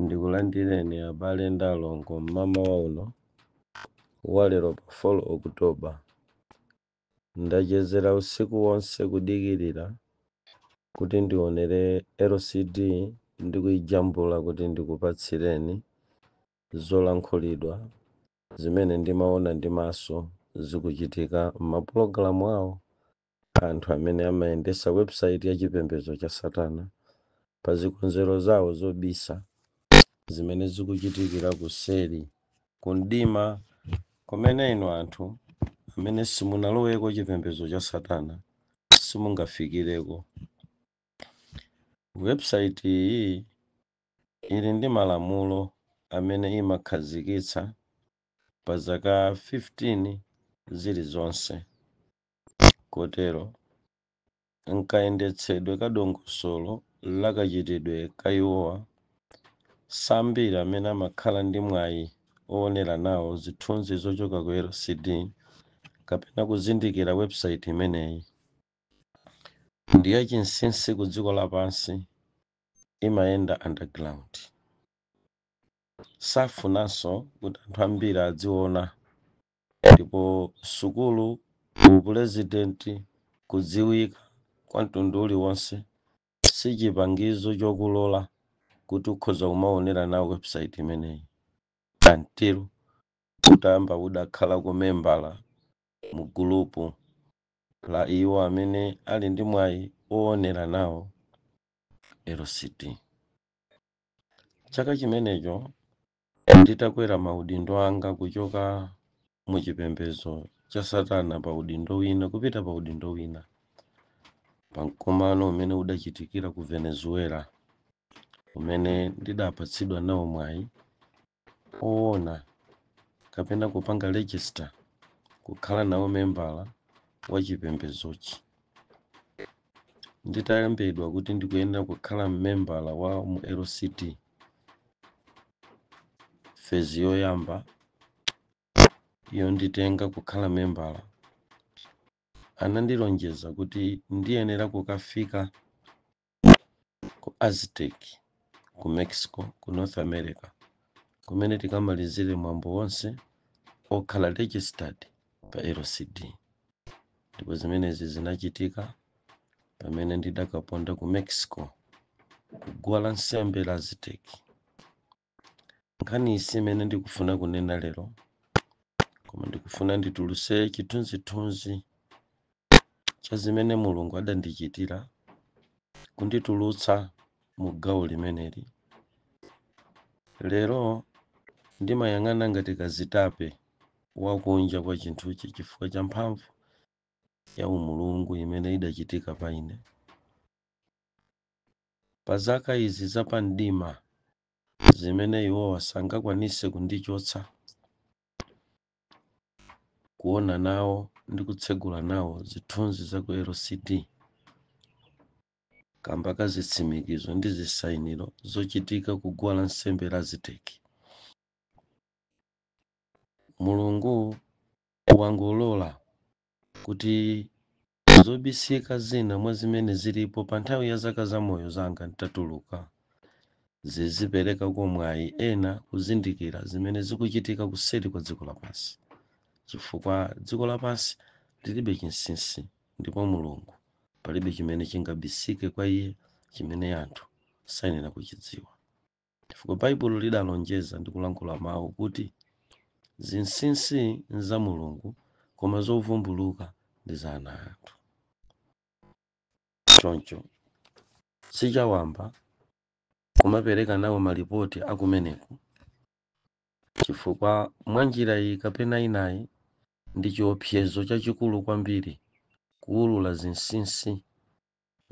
Ndikulandireni abale ndi alongo m'mamawa uno wa lero pa 4 October. Ndachezera usiku wonse kudikirira kuti ndionere LCD ndi kuijambula kuti ndikupatsireni zolankhulidwa zimene ndimaona ndi maso zikuchitika m'mapulogalamu awo Anthu amene amayendetsa webusaiti ya chipembedzo cha Satana pa zikonzero zawo zobisa zimene zikuchitikira kuseri ku mdima kumene inu anthu amene simunaloweko chipembedzo cha Satana simungafikireko. Webusaiti iyi ili ndi malamulo amene imakhazikitsa pa zaka 15 zilizonse. Kotero, m'kayendetsedwe ka dongosolo la kachitidwe ka iwowa, siambiri amene amakhala ndi mwayi owonera nawo zithunzi zochoka ku LCD kapena kuzindikira webusaiti imeneyi. Ndi yachinsinsi ku dziko lapansi, imayenda underground. Safunanso kuti anthu ambiri adziwona. Ndipo sukulu, upulezidenti, kudziwika, kwa mtundu uliwonse, si chipangizo chokulola kuti ukhoza kumawonera nawo webusaiti imeneyi, until utayamba udakhalako membala mu gulupu la iwo amene ali ndi mwayi wowonera nawo LCD. Chaka chimenecho, Nditakwera maudindo anga kuchoka mu chipembedzo cha Satana pa udindo wina kupita pa udindo wina, pa mkumano umene udachitikira ku Venezuela umene ndidapatsidwa nawo mwayi owona kapena kupanga register kukhala nawo membala wa chipembedzochi. nditalembedwa kuti ndikuyenera kukhala mmembala wa mu LCD fezi yoyamba yonditenga kukhala membala anandilonjeza kuti ndiyenera kukafika ku Aztec ku Mexico ku North America kumene tikamalizire mwambo wonse okhala registered pa LCD ndipo zimenezi zinachitika pamene ndidakaponda ku Mexico kuguwa la nsembe la Aziteki nkhani isi imene ndikufuna kunena lero koma ndikufuna ndituluse chithunzithunzi cha zimene mulungu adandichitira kunditulutsa mu gawo limeneli lero ndimayang'ana ngati kazitape wa kunja kwa chinthuchi chifukwa cha mphamvu ya umulungu imene idachitika pa ine. Pa zaka izi za pa mdima zimene iwowa sangakwanise kundichotsa kuona nawo ndi kutsegula nawo zithunzi za ku LCD kamba ka zitsimikizo ndi zisainiro zochitika ku guwa la nsembe la Aziteki. Mulungu wangolola kuti zobisika zina mwa zimene zilipo pa nthawi ya zaka za moyo zanga nditatuluka ziziperekako mwayi kwa ena kuzindikira zimene zikuchitika kuseri kwa dziko lapansi chifukwa dziko lapansi lilibe chinsinsi ndipo mulungu palibe chimene chingabisike kwa iye chimene anthu sayenera kuchidziwa chifukwa Baibulo lidalonjeza ndi kulankhula mawu kuti zinsinsi nza Mulungu koma zovumbuluka ndi za ana anthu. Choncho sichawamba kumapereka nawo malipoti akumeneko chifukwa mwa njira iyi kapena inayi ndi chiopsezo chachikulu kwambiri kuulula zinsinsi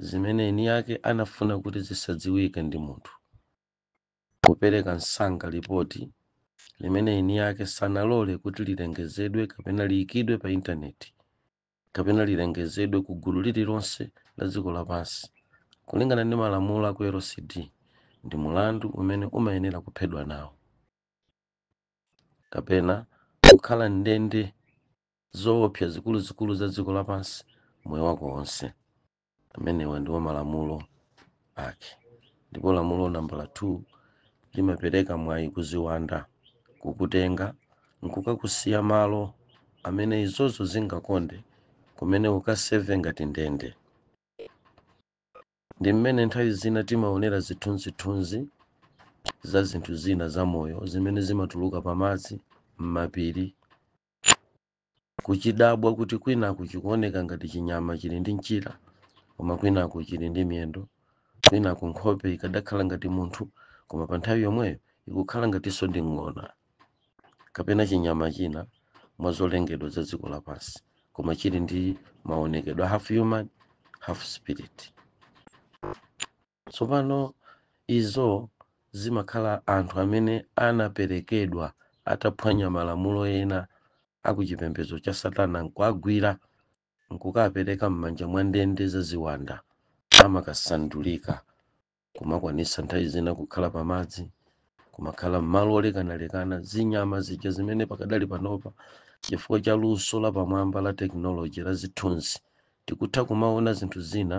zimene eni ake anafuna kuti zisadziwike ndi munthu, kupereka msanga lipoti limene eni ake sanalole kuti lilengezedwe kapena liikidwe pa Intaneti kapena lilengezedwe ku gulu lililonse la dziko lapansi, kulingana ndi malamulo a ku LCD, ndi mlandu umene umayenera kuphedwa nawo kapena kukhala m'ndende zowopsya zikuluzikulu za dziko lapansi moyo wako wonse. Amenewa ndiwo malamulo ake. Ndipo lamulo nambala 2 limapereka mwayi ku ziwanda kukutenga nkukakusiya malo amene izozo zingakonde, kumene ukaseve ngati ndende. Ndi mmene nthawi zina timaonera zithunzithunzi za zinthu zina zamoyo zimene zimatuluka pamadzi, m'mapiri, kuchidabwa kuti kwinaku chikuoneka ngati chinyama chili ndi mchira koma kwinaku chili ndi miyendo, kwinaku nkhope ikadakhala ngati munthu koma pa nthawi yomweyo ikukhala ngatinso ndi ng'ona kapena chinyama china mwa zolengedwa za dziko lapansi koma chili ndi maonekedwe half human half spirit. Tsopano, izo zimakhala anthu amene anaperekedwa ataphwanya malamulo ena a ku chipembedzo cha Satana, nkuwagwira, nkukawapereka mmanja mwa ndende za ziwanda, amakasandulika, kumakwanitsa nthawi zina kukhala pa madzi, kumakhala mmalo olekanalekana, zinyama zija zimene pakadali panopa, chifukwa cha luso lapamwamba la tekinoloje la zithunzi, tikutha kumawona zinthu zina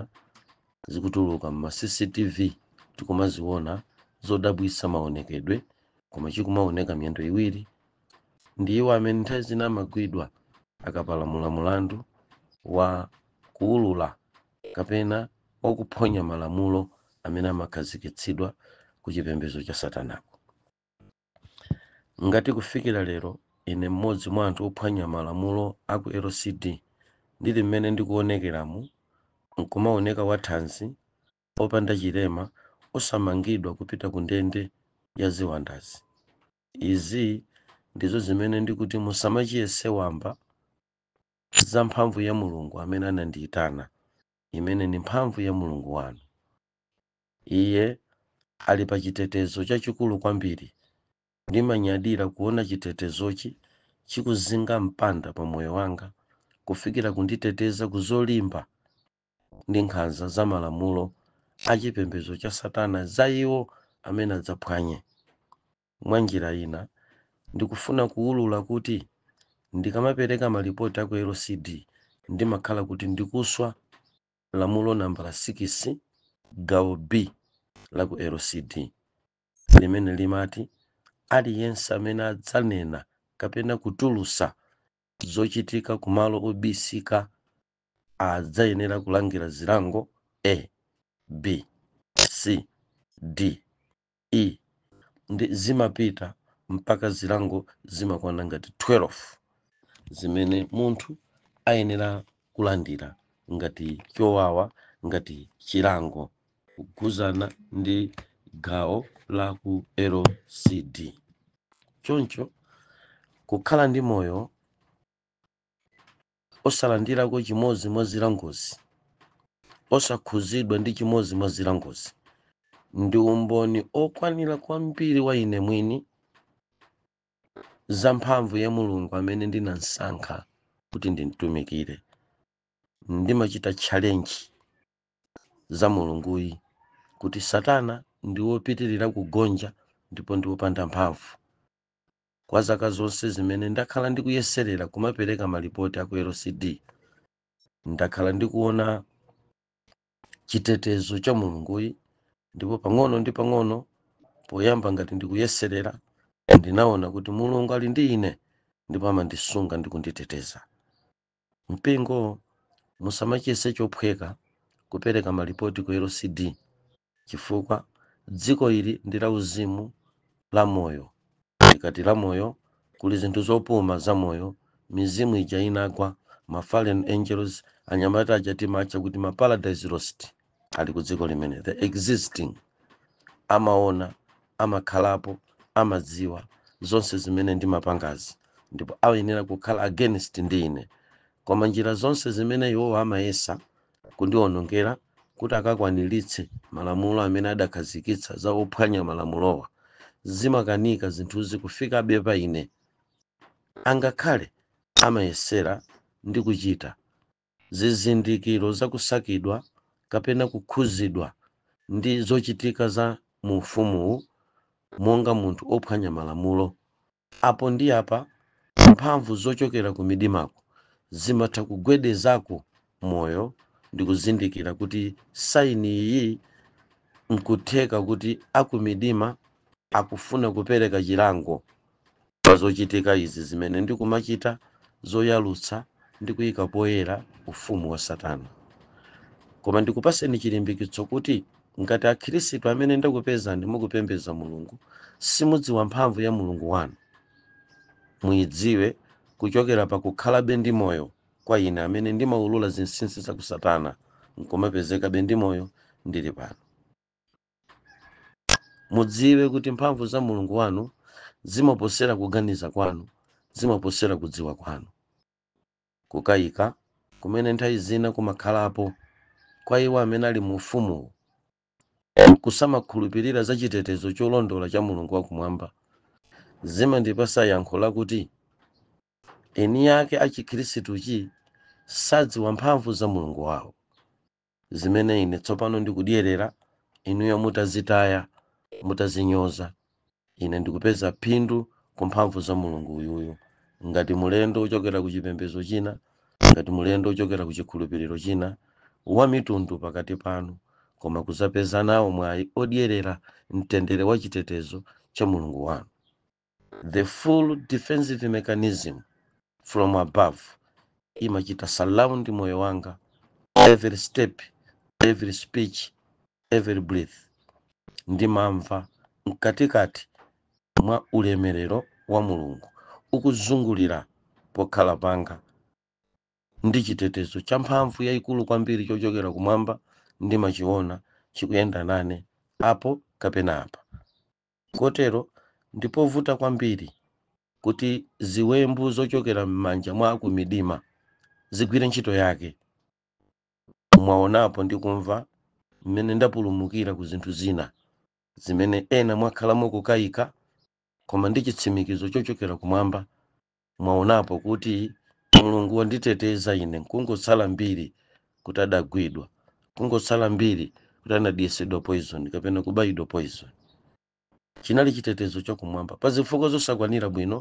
zikutuluka mma cctv tikumaziona zodabwisa maonekedwe koma chikumaoneka miyendo iwiri ndi iwo amene nthawi zina amagwidwa akapalamula mulandu wa kuulula kapena wakuphonya malamulo amene amakhazikitsidwa ku chipembedzo cha satanako Ngati kufikira lero ine mmodzi mwa anthu ophwanya malamulo a ku LCD ndili mmene ndikuonekeramu, nkumaoneka wathanzi, opanda chilema, osamangidwa kupita kundende ya ziwandazi, izi ndizo zimene ndikuti musamachiyese wamba za mphamvu ya Mulungu amene anandiitana, imene ndi mphamvu ya Mulungu wanu. Iye ali pa chitetezo chachikulu kwambiri. Ndimanyadira kuona chitetezochi chikuzinga mpanda pa moyo wanga kufikira kunditeteza ku zolimba ndi nkhanza za malamulo a chipembedzo cha Satana za iwo amene adzaphwanye. Mwa njira ina, ndikufuna kuulula kuti ndikamapereka malipoti a ku LCD, ndimakhala kuti ndikuswa lamulo nambala sikisi gawo B la ku LCD limene limati aliyense amene adzanena kapena kutulusa zochitika kumalo obisika adzayenera kulandira zilango A, B, C, D E zimapita mpaka zilango zimakwana ngati 12 zimene munthu ayenera kulandira ngati chowawa ngati chilango kugwirizana ndi gawo la ku lcd choncho kukhala ndi moyo osalandirako chimodzi mwa zilangozi, osakhuzidwa ndi chimodzi mwa zilangozi, ndi umboni okwanira kwa mbiri ya ine mwini za mphamvu ya Mulungu amene ndinamsankha kuti ndimtumikire. Ndimachita challenge za Mulunguyi kuti Satana ndi wopitirira kugonja ndipo ndi wopanda mphamvu. Kwa zaka zonse zimene ndakhala ndikuyeserera kumapereka malipoti a ku LCD, ndakhala ndikuona chitetezo cha Mulunguyi ndipo pang'ono ndi pang'ono, poyamba ngati ndikuyeserera, ndinaona kuti Mulungu ali ndi ine ndipo amandisunga ndi kunditeteza. Mpingo musamachiyese chophweka kupereka malipoti ku LCD chifukwa dziko ili ndi la uzimu la moyo. Ndikati la moyo kuli zinthu zopuma za moyo, mizimu ija inagwa, ma fallen angels, anyamata aja timatcha kuti ma paradise lost. ali ku dziko limene ndi existing amaona amakhalapo amadziwa zonse zimene ndimapangazi ndipo ayenera kukhala against ndi ine koma njira zonse zimene iwowo amayesa kundionongera kuti akakwaniritse malamulo amene adakhazikitsa za ophwanya malamulowa zimakanika zinthuzi kufikabe pa ine angakhale amayesera ndi kuchita zizindikiro za kusakidwa kapena kukhuzidwa ndi zochitika za mu ufumuwu monga munthu ophwanya malamulo. Apo ndi apa mphamvu zochokera ku midimaku zimatha kugwedezako moyo ndikuzindikira kuti saini iyi nkutheka kuti akumidima akufuna kupereka chilango Pa zochitika izi zimene ndikumachita zoyalutsa ndi kuika poyera ufumu wa Satana. Koma ndikupaseni chilimbikitso kuti ngati akhirisitu amene ndakupezani mukupembeza Mulungu simudziwa mphamvu ya Mulungu wanu, muidziwe kuchokera pa kukhalabe ndi moyo kwa ine amene ndimaulula zinsinsi za ku Satana nkumapezekabe ndi moyo ndili pano. mudziwe kuti mphamvu za mulungu wanu zimaposera kuganiza kwanu zimaposera kudziwa kwanu kukayika kumene nthawi zina kumakhalapo kwa iwo amene ali mu ufumuwu kusamakhulupirira za chitetezo cholondola cha mulungu wakumwamba zimandipasa yankho lakuti eni ake a chikhristuchi sadziwa mphamvu za mulungu wawo zimene ine tsopano ndikudyerera, inuyo mutazitaya, mutazinyoza. Ine ndikupeza phindu ku mphamvu za Mulungu uyuyu. Ngati mulendo wochokera ku chipembedzo china, ngati mulendo wochokera ku chikhulupiriro china, wamitundu pakati panu, koma kuzapeza nawo mwayi odyerera mtendere wa chitetezo cha Mulungu wanu. the full defensive mechanism from above imachita surround moyo wanga every step every speech every breath ndimamva mkatikati mwa ulemerero wa mulungu ukuzungulira pokhala panga ndi chitetezo cha mphamvu yayikulu kwambiri chochokera kumwamba ndimachiona chikuyenda nane apo kapena apa Kotero ndi povuta kwambiri kuti ziwembu zochokera m'manja mwa akumidima zigwire ntchito yake. Mwaonapo ndi kumva mmene ndapulumukira ku zinthu zina zimene ena mwakhala mukukaika, koma ndi chitsimikizo chochokera kumwamba Mwaonapo kuti Mulungu wanditeteza ine nkungotsala mbiri kuti adagwidwa, kungotsala mbiri kuti anadyesedwa poison kapena kubayidwa poison. Chinali chitetezo cha kumwamba pa zifukwa zosakwanira bwino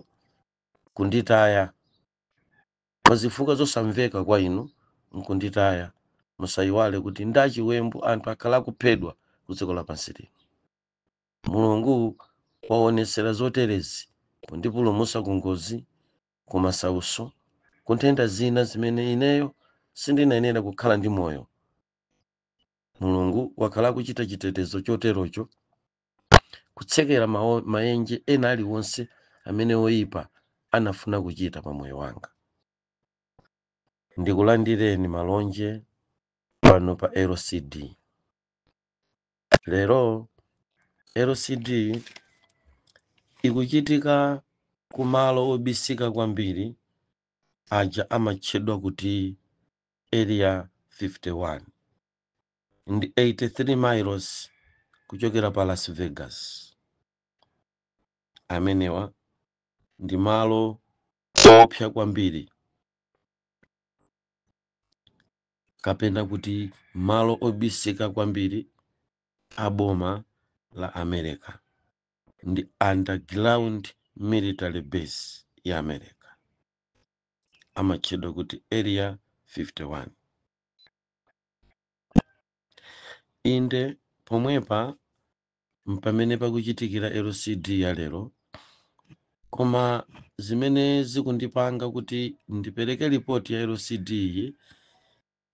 kunditaya, pa zifukwa zosamveka kwa inu nkunditaya. Musaiwale kuti ndi chiwembu anthu akhala akuphedwa ku dziko lapansi lino. Mulungu waonetsera zoterezi pondipulumutsa ku ngozi, ku masautso, ku nthenda zina zimene ineyo sindinayenera kukhala ndi moyo. Mulungu wakhala akuchita chitetezo choterocho, kutsekera maenje ena aliwonse amene oipa anafuna kuchita pa moyo wanga. Ndikulandireni malonje pano pa RCD. Lero RCD ikuchitika ku malo obisika kwambiri aja amatchedwa kuti Area 51 ndi 83 miles kuchokera pa Las Vegas. Amenewa ndi malo oopsa kwambiri. kapena kuti malo obisika kwambiri a boma la America ndi underground military base ya America amatchedwa kuti Area 51. Inde pomwepa mpamene pakuchitikira LCD ya lero. Koma zimene zikundipanga kuti ndipereke lipoti ya LCD iyi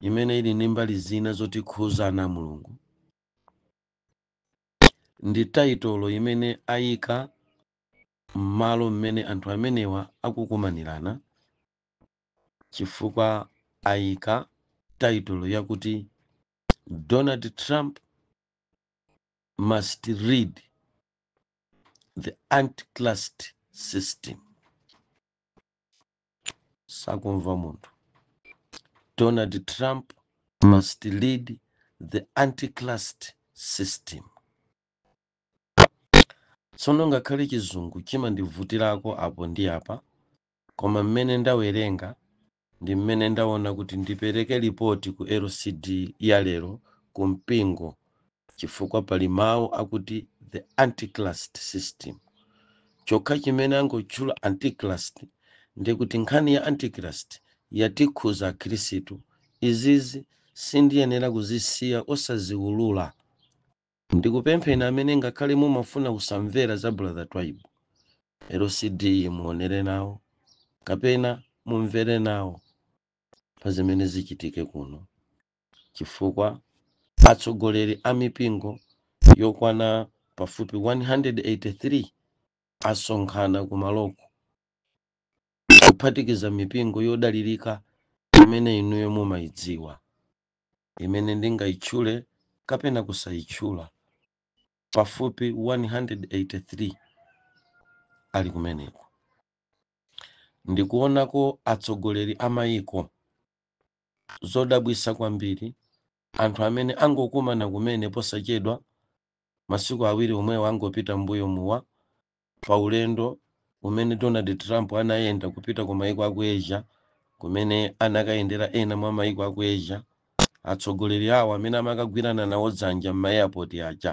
imene ili ndi mbali zina zotikhudza ana a Mulungu ndi taitolo imene ayika m'malo mmene anthu amenewa akukumanirana chifukwa ayika taitolo yakuti Donald Trump must lead the antichrist system akumva munthu donald trump must lead the antichrist system tsono ngakhale chizungu chimandivutirako apo ndi apa koma mmene ndawerenga Ndi mmene ndaona kuti ndipereke lipoti ku LCD ya lero ku mpingo chifukwa pali mau akuti the antichrist system. Chokha chimene angotchula antichrist ndiye kuti nkhani ya antichrist yatikhudza akhirisitu. Izizi sindiyenera kuzisiya osaziulula Ndikupempheni amene ngakhale mumafuna kusamvera za brother Twaibu, LCD muonere nawo kapena mumvere nawo pa zimene zichitike kuno chifukwa atsogoleri a mipingo yokwana pafupi 183 asonkhana kumaloko kuphatikiza mipingo yodalilika imene inuyo mumaidziwa. imene ndingaitchule kapena kusaitchula pafupi 183 ali kumeneko ndikuonako atsogoleri a mayiko zodabwitsa kwambiri anthu amene angokumana kumene posachedwa masiku awiri omwewa angopita m'mbuyomuwa pa ulendo umene Donald Trump anayenda kupita ku maiko a ku Asia kumene anakayendera ena mwa maiko a ku Asia atsogoleri awo amene amakagwirana nawo dzanja m'ma airport aja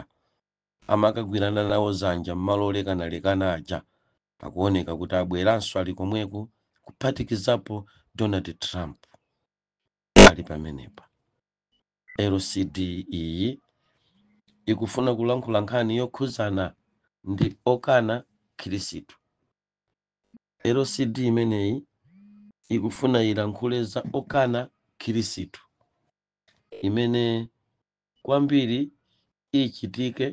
amakagwirana nawo dzanja m'malo olekanalekana aja akuoneka kuti abweranso ali komweko kuphatikizapo Donald Trump ali pamenepa LCD iyi ikufuna kulankhula nkhani yokhuzana ndi okana Khirisitu LCD imeneyi ikufuna ilankhule za okana Khirisitu imene kwambiri ichitike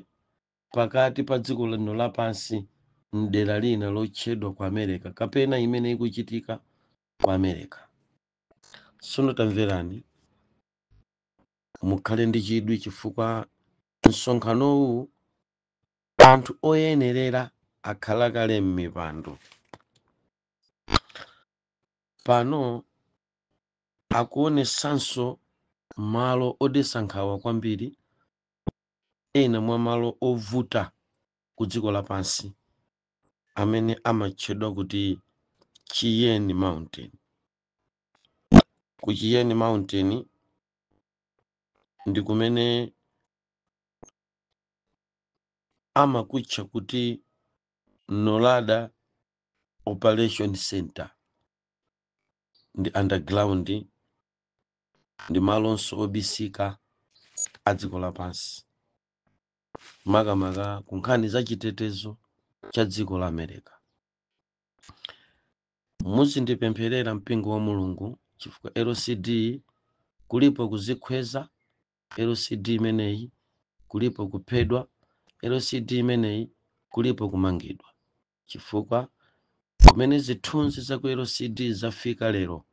pakati pa dziko lino lapansi mdera lina lotchedwa ku America kapena imene ikuchitika ku America Tsono tamverani, mukhale ndi chidwi chifukwa msonkhanowu anthu oyenerera akhala kale m'mipando. Pano akuonetsanso malo odetsa nkhawa kwambiri, ena mwa malo ovuta ku dziko lapansi amene amatchedwa kuti Cheyenne Mountain. Ku Cheyenne Mountain ndi kumene amakutcha kuti NORAD Operation Center ndi underground ndi malonso obisika a dziko lapansi. makamaka ku nkhani za chitetezo cha dziko la America. Muzindipempherera mpingo wa Mulungu chifukwa LCD kulipo kuzikhweza, LCD imeneyi kulipo kuphedwa, LCD imeneyi kulipo kumangidwa. Chifukwa kumene zithunzi za ku LCD zafika lero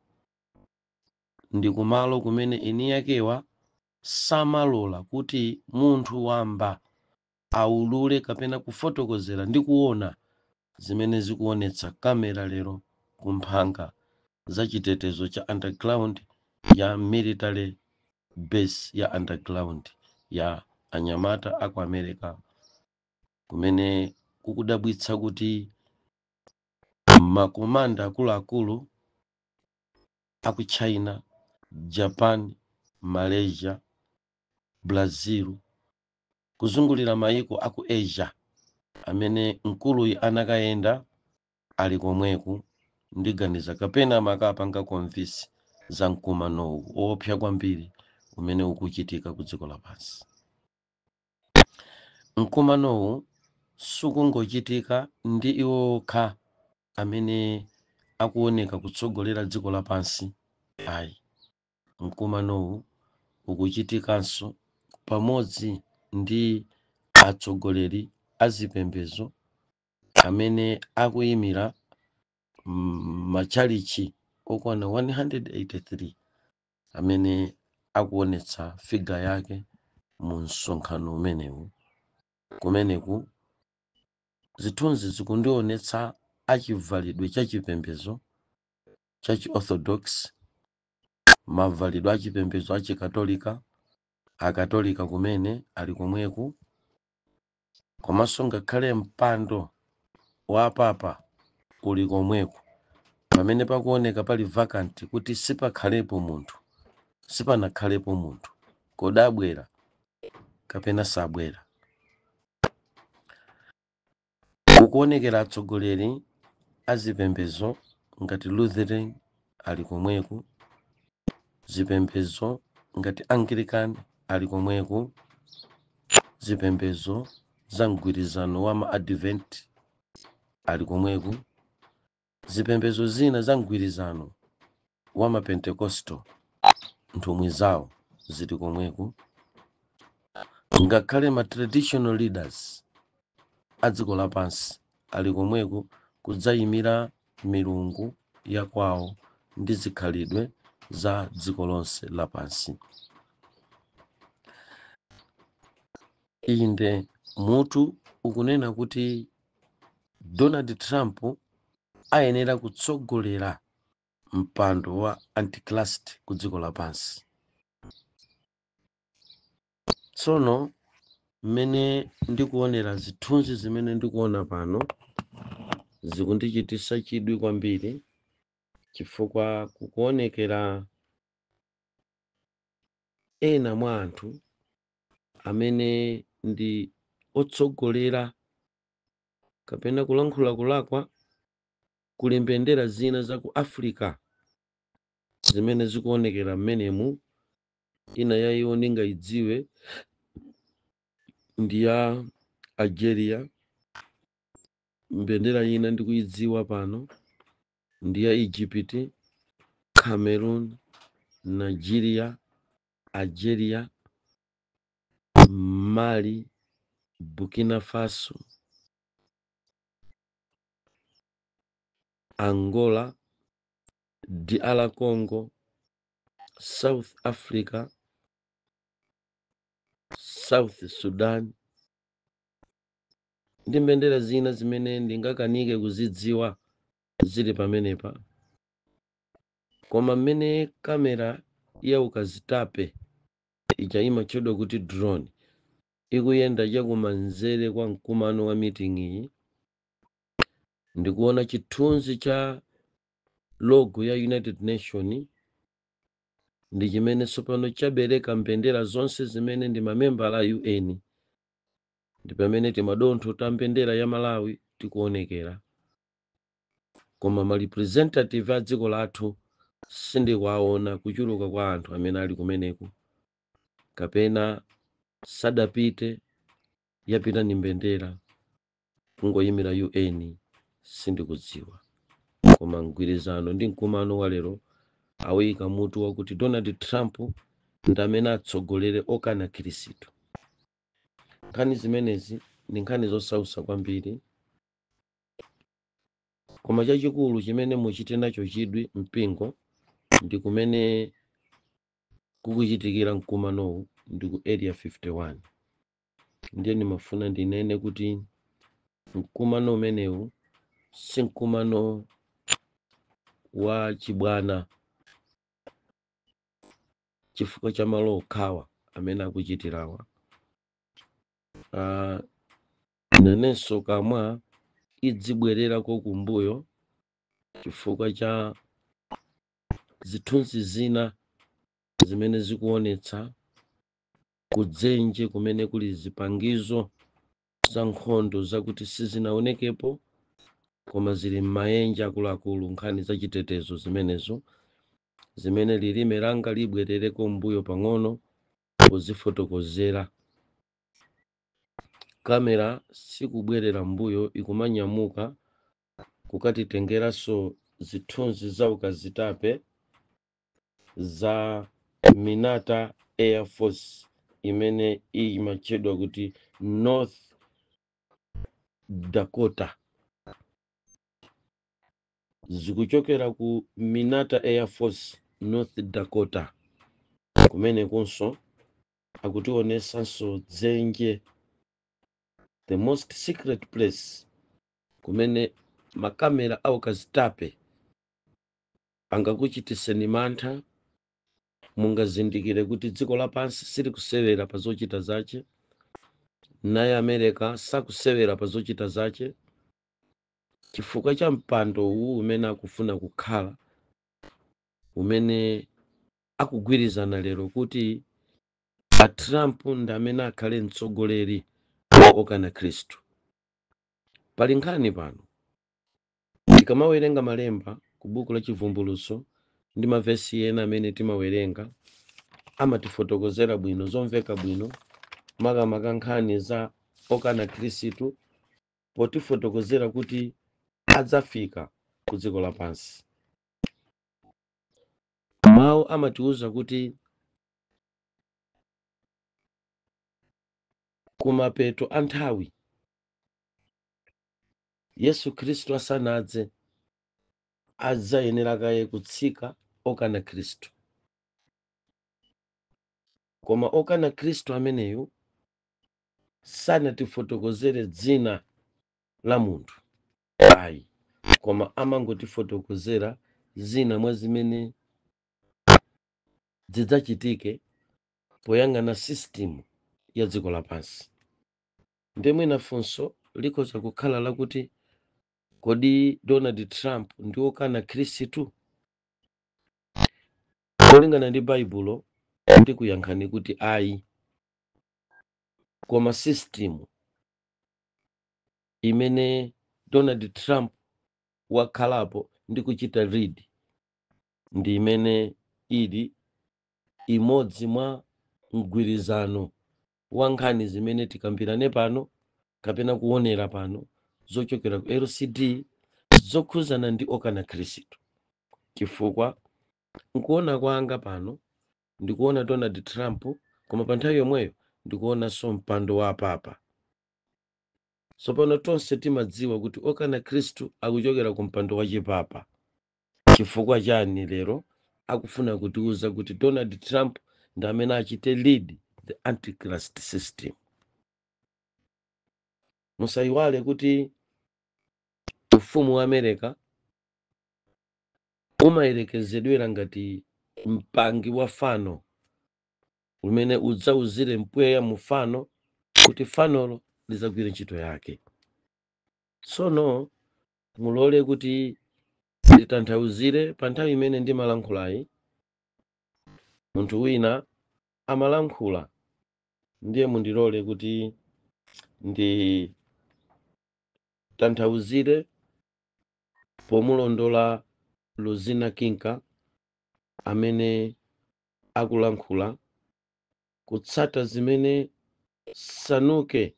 ndi kumalo kumene eni akewa samalola kuti munthu wamba aulule kapena kufotokozera ndi kuona zimene zikuonetsa camera lero ku mphanga za chitetezo cha underground ya military base ya underground ya anyamata aku america kumene kukudabwitsa kuti makomanda akuluakulu a ku china, japan, malaysia, brazil, kuzungulira mayiko a ku asia amene mkuluyi anakayenda ali komweku ndiganiza kapena amakapanga convince anthu za mkumanowu oopsa kwambiri umene ukuchitika ku dziko lapansi Mkumanowu sukungochitika ndi iwo okha amene akuoneka kutsogolera dziko lapansi ayi. Mkumanowu ukuchitikanso pamodzi ndi atsogoleri a zipembedzo amene akuimira matchalitchi okwana 183 amene akuonetsa figure yake mu msonkhano umenewu kumeneku zithunzi zikundionetsa a chivalidwe cha chipembedzo cha chiorthodox mavalidwe a chipembedzo a chikatolika akatolika kumene ali komweku komanso ngakhale mpando wa apapa uli komweko pamene pakuoneka pali vacant kuti sipakhalepo munthu sipanakhalepo munthu kodi abwera kapena sabwera kukuonekera atsogoleri azipembezo ngati lutheran ali komweku zipembedzo ngati anglican ali komweku zipembedzo za mgwirizano wa ma advent ali komweku zipembedzo zina za mgwirizano wa ma pentecostal nthumwi zawo zili komweku ngakhale ma traditional leaders a dziko lapansi ali komweko kudzaimira milungu ya kwawo ndi zikhalidwe za dziko lonse lapansi. Inde, mutu ukunena kuti Donald Trump ayenera kutsogolera mpando wa Antichrist ku dziko lapansi. Tsono mmene ndikuonera zithunzi zimene ndikuona pano zikundichititsa chidwi kwambiri chifukwa kukuonekera ena mwa anthu amene ndi otsogolera kapena kulankhula kulakwa kuli mbendera zina za ku africa zimene zikuonekera mmenemu ina ya iwo ndingaidziwe ndi ya algeria mbendera ina ndikuidziwa pano ndi ya egypt cameroon nigeria algeria mali burkina faso angola DR Congo, south africa south sudan ndi mbendera zina zimene ndingakanike kuzidziwa zili pamenepa koma mmene kamera ya ukazitape ija imatchedwa kuti drone ikuyenda chakumanzere kwa mkumano wa miting'yi ndikuona chithunzi cha logo ya united nation ndi chimene tsopano chabereka mbendera zonse zimene ndi mamembala a un ndi pamene timadontho ta mbendera ya malawi tikuonekera koma ma representative a dziko lathu sindikuwaona kuchuluka kwa anthu amene ali kumeneko kapena sadapite yapita ndi mbendera kungoyimira UN sindikudziwa koma mgwirizano ndi mkumano wa lero awuyika mutu wakuti Donald Trump ndi amene atsogolere okana Khristu. Nkhani zimenezi ndi nkhani zosausa kwambiri koma chachikulu chimene muchite nacho chidwi mpingo ndi kumene kukuchitikira mkumanowu ndi ku area 51 ndiye ndimafuna ndinene kuti mkumano umenewu si mkumano wa chibwana chifukwa cha malo okhawa amene akuchitirawa uh, nanenso kamwa izibwererako kumbuyo chifukwa cha zithunzi zina zimene zikuonetsa kudzenje kumene kuli zipangizo za nkhondo zakuti sizinaonekepo koma zili m'mayenje akuluakulu nkhani za chitetezo zimenezo zimene lilime langa libwerereko mbuyo pang'ono pozifotokozera kamera sikubwerera mbuyo ikumanyamuka kukatitengeranso zithunzi za ukazitape za Minot Air Force imene imatchedwa kuti North Dakota zikuchokera ku Minot Air Force North Dakota kumenekunso akutionesanso dzenje the most secret place kumene makamera aukazitape angakuchititseni mantha. Mungazindikire kuti dziko lapansi silikusewera pa zochita zache, naye America sakusewera pa zochita zache, chifukwa cha mpando uwu umene akufuna kukhala, umene akugwirizana lero kuti a Trump ndi amene akhale mtsogoleri wa okana Khristu. Pali nkhani pano. Tikamawerenga malemba ku buku la Chivumbulutso ndi mavesi ena amene timawerenga amatifotokozera bwino zomveka bwino makamaka nkhani za okana Khristu potifotokozera kuti adzafika ku dziko lapansi. Mawu amatiwuza kuti kumapeto a nthawi Yesu Khristu asanadze adzayenera kaye kutsika okana Khristu. Koma okana Khristu ameneyo sanatifotokozere dzina la munthu ayi, koma amangotifotokozera zina mwa zimene zidzachitike poyang'ana system ya dziko lapansi. Ndiye mwina funso likhoza kukhala lakuti, Kodi Donald Trump ndi wokana Khristu? Molingana ndi Baibulo, ndikuyankhani kuti ayi. Koma system imene Donald Trump wakhalapo ndi kuchita lead ndi imene ili imodzi mwa mgwirizano wa nkhani zimene tikambirane pano kapena kuonera pano zochokera ku lcd zokhudzana ndi okana khristu chifukwa nkuona kwanga pano ndikuona donald trump koma pa nthawi yomweyo ndikuonanso mpando wa papa tsopano tonse timadziwa kuti okana khristu akuchokera ku mpando wa chipapa Chifukwa chani lero akufuna kutiuza kuti Donald Trump ndi amene achite lead the antichrist system? Musayiwale kuti ufumu wa America umayerekezedwera ngati mpangi wa fano umene udzauzire mpweya mu fano kuti fanolo lidzagwire ntchito yake. Tsono mulole kuti nditanthauzire pa nthawi imene ndimalankhulayi munthu wina amalankhula ndiye mundilole kuti nditanthauzire pomulondola luzina kinka amene akulankhula kutsata zimene sanuke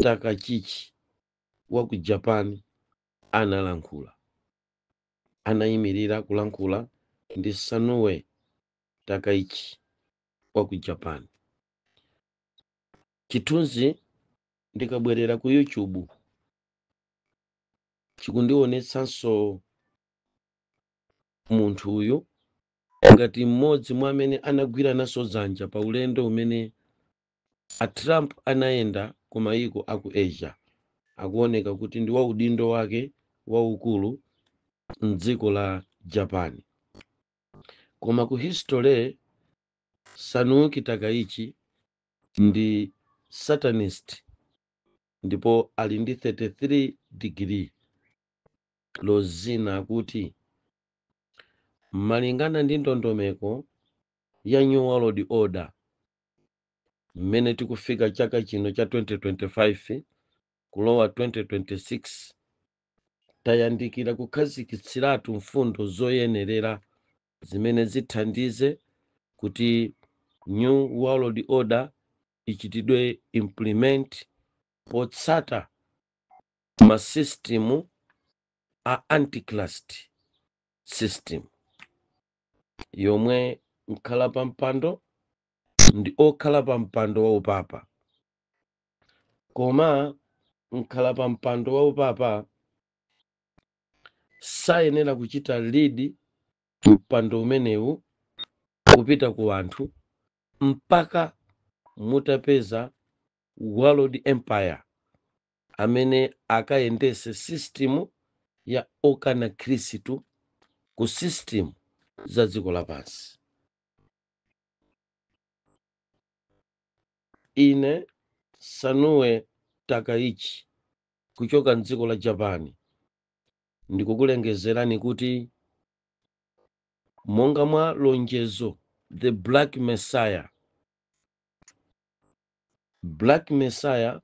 takachichi wa ku japan analankhula anayimirira kulankhula ndi sanae takaichi wa ku japan chithunzi ndikabwerera ku youtube chikundionetsanso munthu uyu ngati mmodzi mwa amene anagwira nawo dzanja pa ulendo umene a trump anayenda ku mayiko a ku asia akuoneka kuti ndi waudindo wake waukulu mdziko la japan koma ku history sanae takaichi ndi satanist ndipo ali ndi 33 degree nozing'a kuti malingana ndi ndondomeko ya new world order mmene tikufika chaka chino cha 2025 kulowa 2026 tayandikira kukhazikitsiratu mfundo zoyenerera zimene zithandize kuti new world order ichitidwe implement potsata masistimu a antichrist system yomwe mkhala pa mpando ndi okhala pa mpando wa upapa koma mkhala pa mpando wa upapa sayenera kuchita lead mpando umenewu kupita ku anthu mpaka mutapeza world empire amene akayendese system ya okana khristu ku system za dziko lapansi ine sanae takaichi kuchoka mdziko la japan ndikukulengezerani kuti monga mwa lonjezo the black messiah black messiah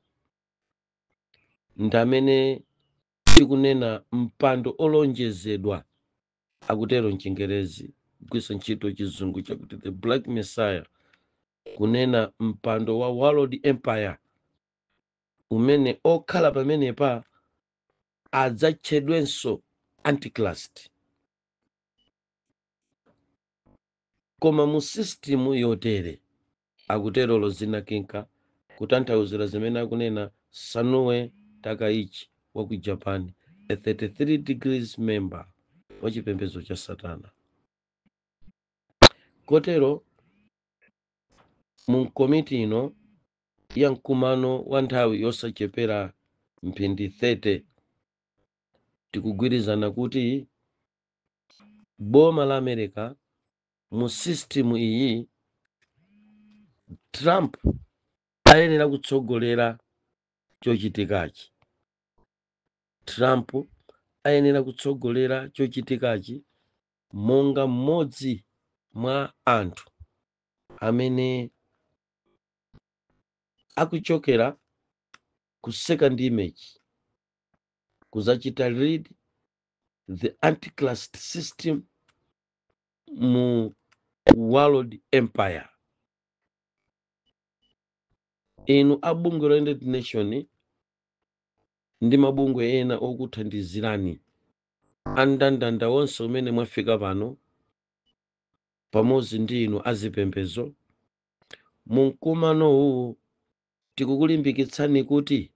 ndi amene tikunena mpando olonjezedwa akutero mchingerezi kugwiritsa ntchito chizungu chakuti the black messiah kunena mpando wa world empire umene okhala pamenepa adzatchedwenso antichrist koma mu sistimu yotere akutero Rosina Kinka kutanthauzira zimene akunena Sanae Takaichi wa ku Japan, a 33 Degree member wa chipembedzo cha Satana. Kotero, mu nkomiti ino ya mkumano wa nthawi yosachepera mphindi 30 tikugwirizana kuti boma la America mu system iyi trump ayenera kutsogolera chochitikachi trump ayenera kutsogolera chochitikachi monga mmodzi mwa anthu amene akuchokera ku second image kuzachita lead the antichrist system mu world empire inu a bungwe la united nation ndi mabungwe ena okuthandizirani andandanda onse amene mwafika pano pamodzi ndi inu azipembezo mu mkumano uwu tikukulimbikitsani kuti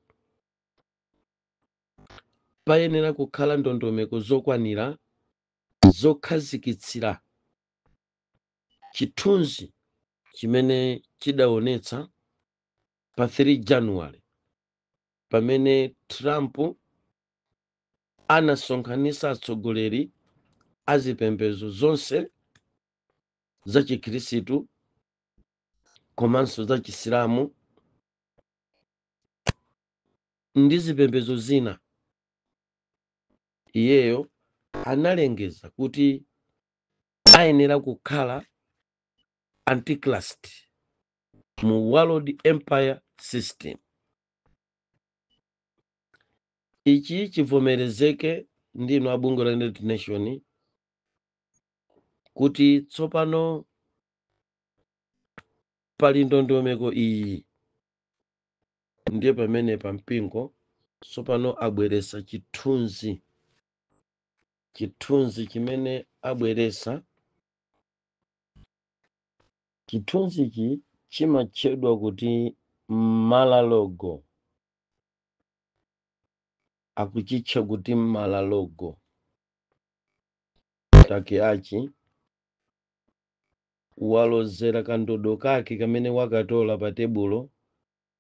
payenera kukhala ndondomeko zokwanira zokhazikitsira chithunzi chimene chidaonetsa pa 3 january pamene trump anasonkhanitsa atsogoleri a zipembedzo zonse za chikhirisitu komanso za chisilamu ndi zipembedzo zina Iyeyo analengeza kuti ayenera kukhala Antichrist mu World Empire System. Ichi chivomerezeke ndi inu a bungwe la United Nation kuti tsopano pali ndondomeko iyi ndiye pamenepa mpingo tsopano abweresa chithunzi chithunzi chimene abweresa chithunzichi chimatchedwa kuti malalogo akuchitcha kuti malalogo Takaichi walozera kandodo kake kamene wakatola pa tebulo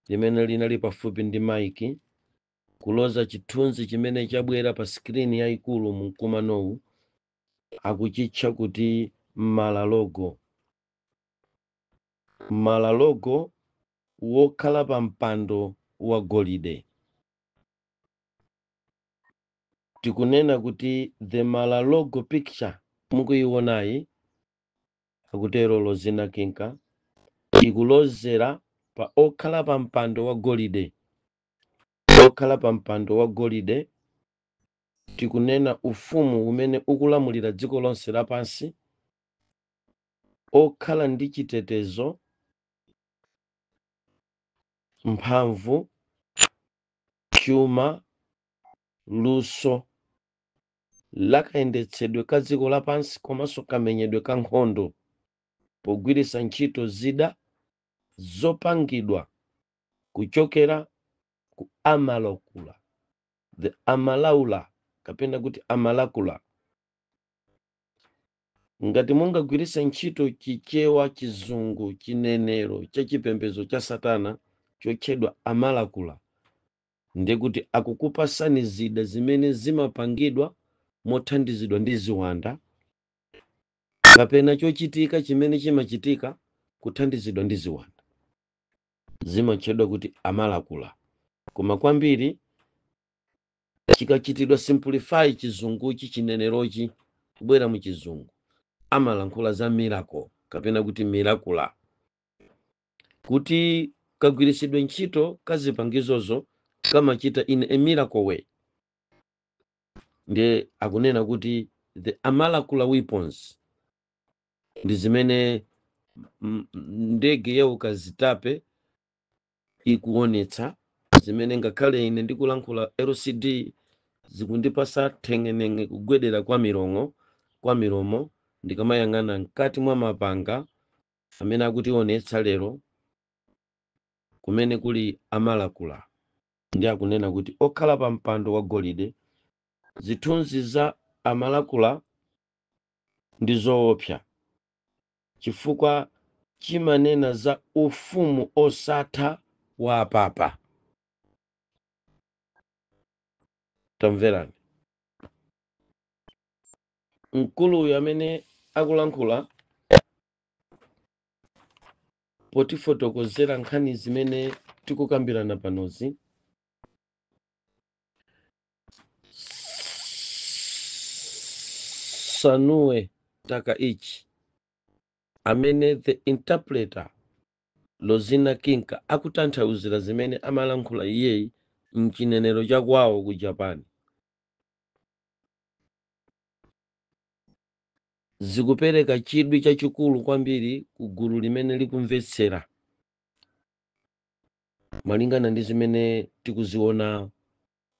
limene linali pafupi ndi maiki, kuloza chithunzi chimene chabwera pa sikirini yaikulu mu mkumanowu, akuchitcha kuti Mara-Logo. Mara-Logo wokhala pa mpando wa golide. Tikunena kuti the Mara-Logo picture mukuiwonayi akutero Rosina Kinca, ikulozera pa okhala pa mpando wa golide. Okhala pa mpando wa golide, tikunena ufumu umene ukulamulira dziko lonse lapansi, okhala ndi chitetezo, mphamvu, chuma, luso, la kayendetsedwe ka dziko lapansi komanso kamenyedwe ka nkhondo pogwiritsa ntchito zida zopangidwa kuchokera ku amalakula the amalaula kapena kuti amalakula ngati mungagwiritsa ntchito chichewa chizungu chinenero cha chipembedzo cha satana chotchedwa amalakula Ndi kuti akukupasani zida zimene zimapangidwa mothandizidwa ndi ziwanda kapena chochitika chimene chimachitika kuthandizidwa ndi ziwanda. Zimatchedwa kuti amalakula. Koma kwambiri chikachitidwa simplify chizunguchi chinenerochi kubwera mu chizungu amalankhula za miracle kapena kuti mirakula. kuti kagwiritsidwe ntchito ka zipangizozo kamachita in a miracle way ndiye akunena kuti the amalakula weapons ndi zimene ndege ya ukazitape ikuonetsa zimene ngakhale ine ndikulankhula lcd zikundipasa nthengenenge kugwedera kwa milongo kwa milomo ndikamayang'ana mkati mwa mapanga amene akutionetsa lero kumene kuli amalakula ndi akunena kuti okhala pa mpando wa golide zithunzi za amalakula ndi zoopsa chifukwa chimanena za ufumu osatha wa apapa tamverani mkuluyu amene akulankhula potifotokozera nkhani zimene tikukambirana panozi sanae takaichi amene the interpreter rozina kinka akutanthauzira zimene amalankhula iyeyi mchinenero cha kwawo ku japan zikupereka chidwi chachikulu kwambiri ku gulu limene likumvetsera malingana ndi zimene tikuziona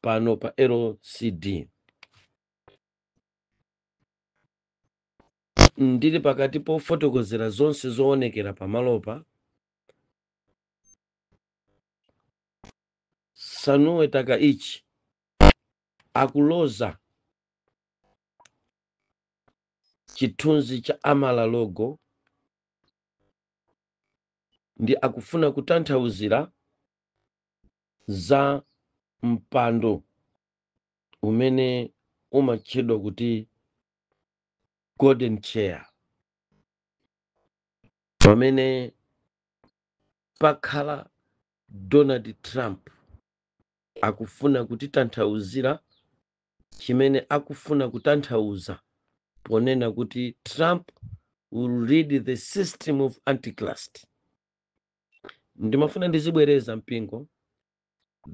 pano pa lcd ndili pakati pofotokozera zonse zoonekera pamalopa sanae takaichi akuloza chithunzi cha mar a lago ndi akufuna kutanthauzira za mpando umene umatchedwa kuti golden chair pamene pakhala donald trump akufuna kutitanthauzira chimene akufuna kutanthauza ponena kuti trump will lead the system of antichrist ndimafuna ndizibwereza mpingo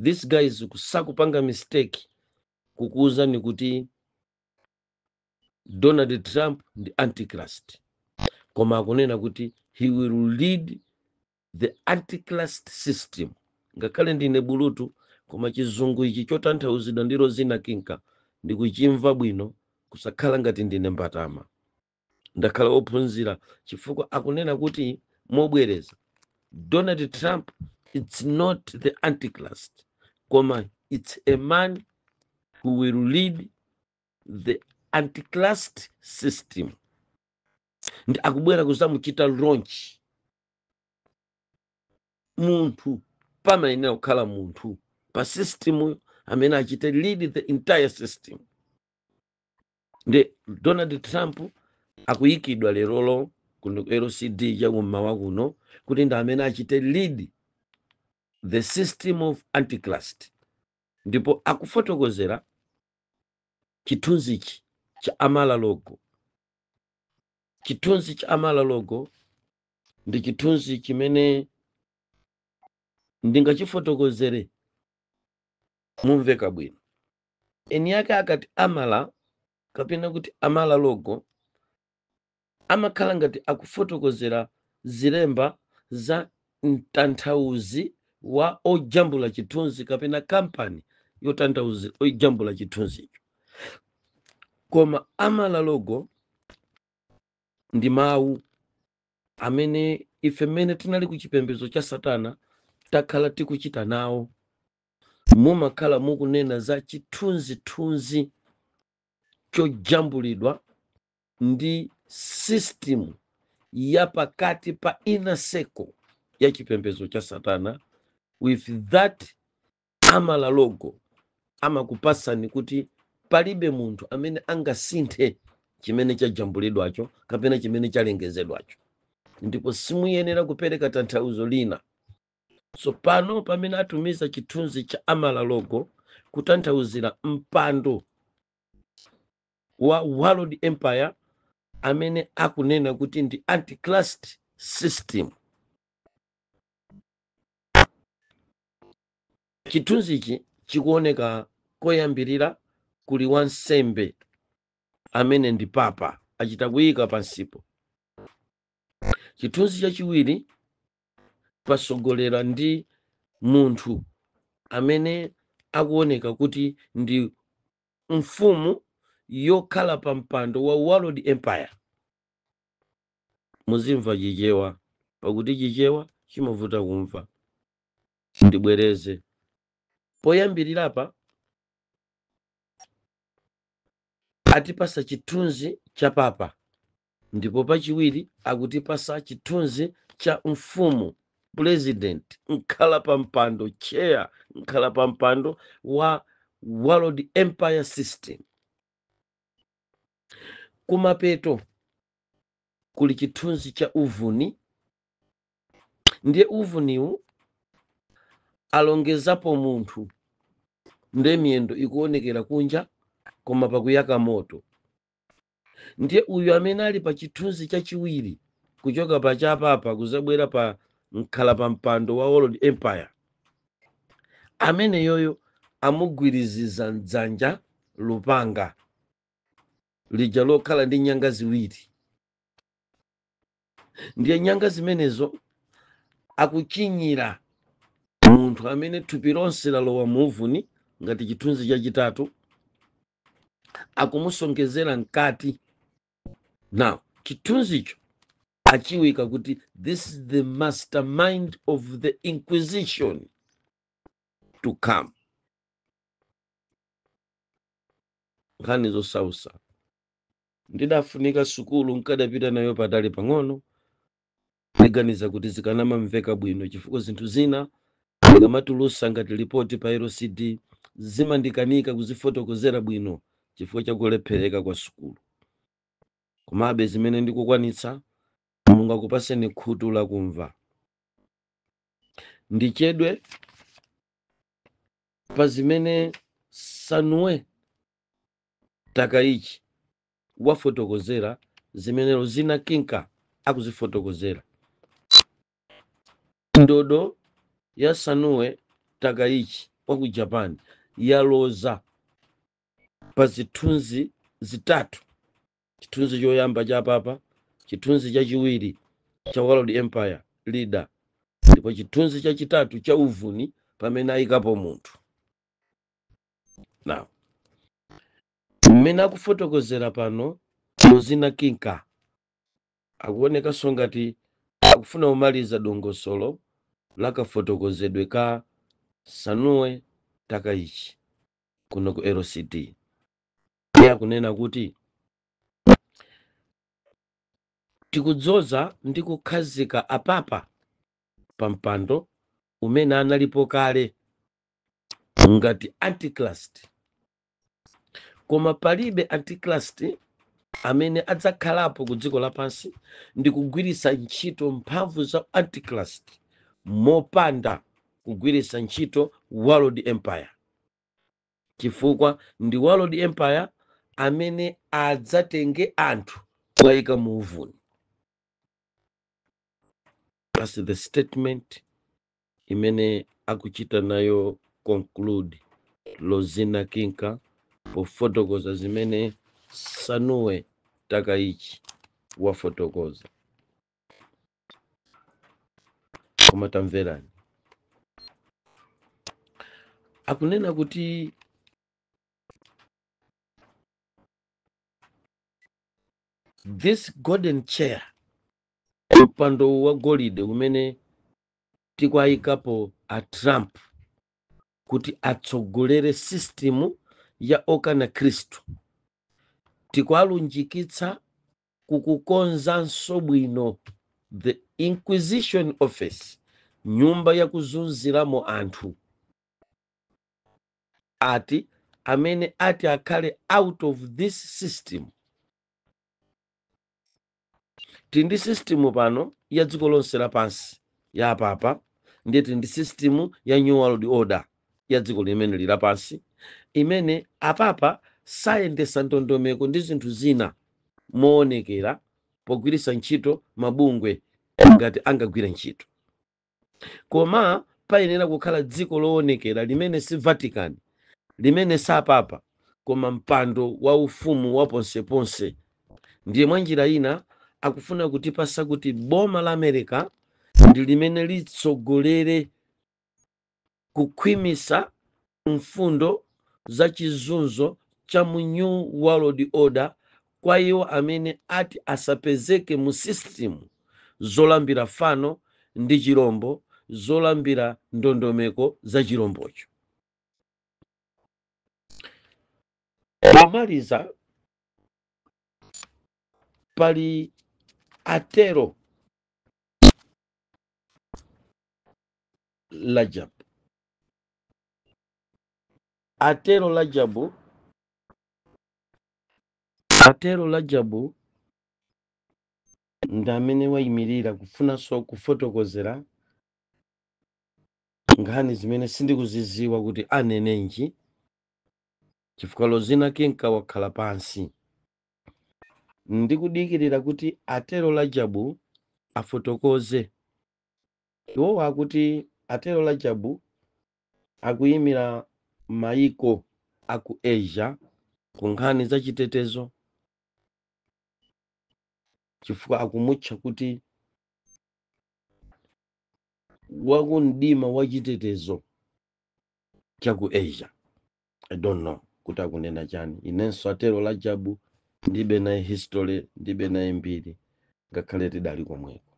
this guys kusakupanga mistake kukuwuzani kuti donald trump ndi antichrist koma akunena kuti he will lead the antichrist system ngakhale ndine bulutu koma chizungu ichi chotanthauzidwa ndi rozina kinka ndikuchimva bwino kusakhala ngati ndine mbatama ndakhala wophunzira chifukwa akunena kuti mobwereza donald trump it's not the antichrist koma it's a man who will lead the antichrist system ndi akubwera kuzamuchita launch munthu pamayenera kukhala munthu pa system amene achite lead the entire system ndi donald trump akuyikidwa lerolo kuno ku lcd cha kummawa kuno kuti ndi amene achite lead the system of antichrist ndipo akufotokozera chithunzichi cha mar a lago Chithunzi cha Amala logo ndi chithunzi chimene ndingachifotokozere mumveka bwino. Eni ake akati Amala kapena kuti Amala logo amakhala ngati akufotokozera zilemba za mtanthauzi wa ojambula chithunzi kapena kampani yotanthauzi ojambula chithunzicho koma amala logo ndi mawu amene ife mmene tinali ku chipembedzo cha satana takhala tikuchita nawo mumakhala mukunena za chithunzithunzi chojambulidwa ndi system ya pakati pa inner circle ya chipembedzo cha satana with that amala logo amakupasani kuti palibe munthu amene angasinthe chimene chajambulidwacho kapena chimene chalengezedwacho ndipo simuyenera kupereka tanthauzo lina tsopano pamene atumiza chithunzi cha amala logo kutanthauzira mpando wa world empire amene akunena kuti ndi antichrist system chithunzichi chikuoneka koyambirira kuli wansembe amene ndi papa achita kuyika pansipo chithunzi chachiwiri pasogolera ndi munthu amene akuoneka kuti ndi mfumu yokhala pa mpando wa world empire muzimva chichewa pakuti chichewa chimavuta kumva ndibwereze poyambirirapa atipasa chithunzi cha papa Ndipo pachiwiri akutipasa chithunzi cha mfumu, pulezidenti, mkhalapampando, chair, mkhalapampando wa World Empire System. Kumapeto kuli chithunzi cha uvuni, ndiye uvuniwu alongezapo munthu nde miyendo ikuonekera kunja koma pakuyaka moto. ndiye uyu amene ali pa chithunzi chachiwiri kuchoka pa cha papa kuzabwera pa mkhala pa mpando wa world empire ameneyoyo amugwiriziza m'dzanja lupanga lija lokhala ndi nyanga ziwiri ndiye nyanga zimenezo akuchinyira munthu amene thupi lonse lalowa mu uvuni ngati chithunzi chachitatu akumusonkhezera mkati ndi chithunzicho achiwika kuti this is the mastermind of the inquisition to come nkhani zosausa ndidafunika sukulu nkadapita nayo patali pang'ono Ndiganiza kuti zikadamamveka bwino chifukwa zinthu zina ndikamatulusa ngati lipoti pa LCD zimandikanika kuzifotokozera bwino chifukwa cha kulephereka kwa sukulu. Komabe zimene ndikukwanitsa Mulungu akupaseni khutu lakumva. Ndichedwe pa zimene Sanue Takaichi kuwafotokozera zimene Lozina Kinka akuzifotokozera ndodo ya sanue takaichi wa ku japan yaloza pa zithunzi zitatu chithunzi choyamba cha papa chithunzi chachiwiri cha world empire leader ndipo chithunzi chachitatu cha uvuni pamene ayikapo munthu now Mmene akufotokozera pano Lozina Kinka akuonekanso ngati akufuna kumaliza dongosolo la kafotokozedwe ka Sanue Takaichi kuno ku LCD. Iye akunena kuti tikudzoza ndi kukhazika apapa pa mpando umene analipo kale ngati antichrist koma palibe antichrist amene adzakhalapo ku dziko lapansi ndi kugwiritsa ntchito mphamvu za antichrist mopanda kugwiritsa ntchito world empire chifukwa ndi world empire amene adzatenge anthu kuwayika mu uvuni that's the statement imene akuchita nayo conclude lozina kinka pofotokoza zimene sanue takaichi wafotokoza koma tamverani akunena kuti this golden chair mpando wa golide umene tikuwayikapo a trump kuti atsogolere system ya okana khristu tikuwalunjikitsa kukakonzanso bwino the inquisition office nyumba yakuzunziramo anthu ati amene ati akhale out of this system tili ndi system pano ya dziko lonse lapansi ya apapa ndiye tili ndi system ya new world order ya dziko limene lili lapansi imene apapa sayendetsa ndondomeko ndi zinthu zina moonekera pogwiritsa ntchito mabungwe ngati angagwire ntchito koma payenera kukhala dziko loonekera limene si vatican limene sapapa koma mpando wa ufumu wa ponseponse ndiye mwa njira ina akufuna kutipatsa kuti boma la america ndi limene litsogolere Kukhwimitsa mfundo za chizunzo cha mu New World Order kwa iwo amene ati asapezeke mu system zolambira fano ndi chirombo zolambira ndondomeko za chirombocho. Pomaliza, pali atero Rajabu atero Rajabu atero Rajabu ndi amene wayimirira kufunanso kufotokozera nkhani zimene sindikuziziwa kuti anenenji chifukwa lozina kenka wakhala pansi ndikudikirira kuti atero Rajabu afotokoze Iwowa akuti atero Rajabu akuyimira mayiko a ku Asia ku nkhani za chitetezo chifukwa akumutcha kuti wakumdima wa chitetezo cha ku Asia. i don't know kuti akunena chani inenso atero Rajabu ndibe naye history ndibe naye mbiri ngakhale tidali komweko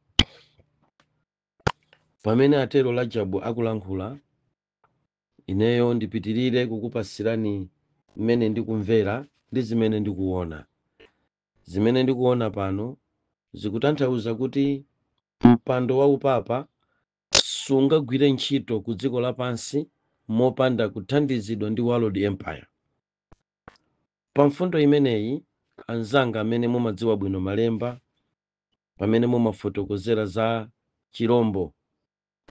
pamene atero Rajabu akulankhula ineyo ndipitirire kukupasirani mmene ndikumvera ndi zimene ndikuona zimene ndikuona pano zikutanthauza kuti mpando wa upapa sungagwire ntchito ku dziko lapansi mopanda kuthandizidwa ndi world empire. Pa mfundo imeneyi, anzanga amene mumadziwa bwino malemba pamene timafotokozera za chirombo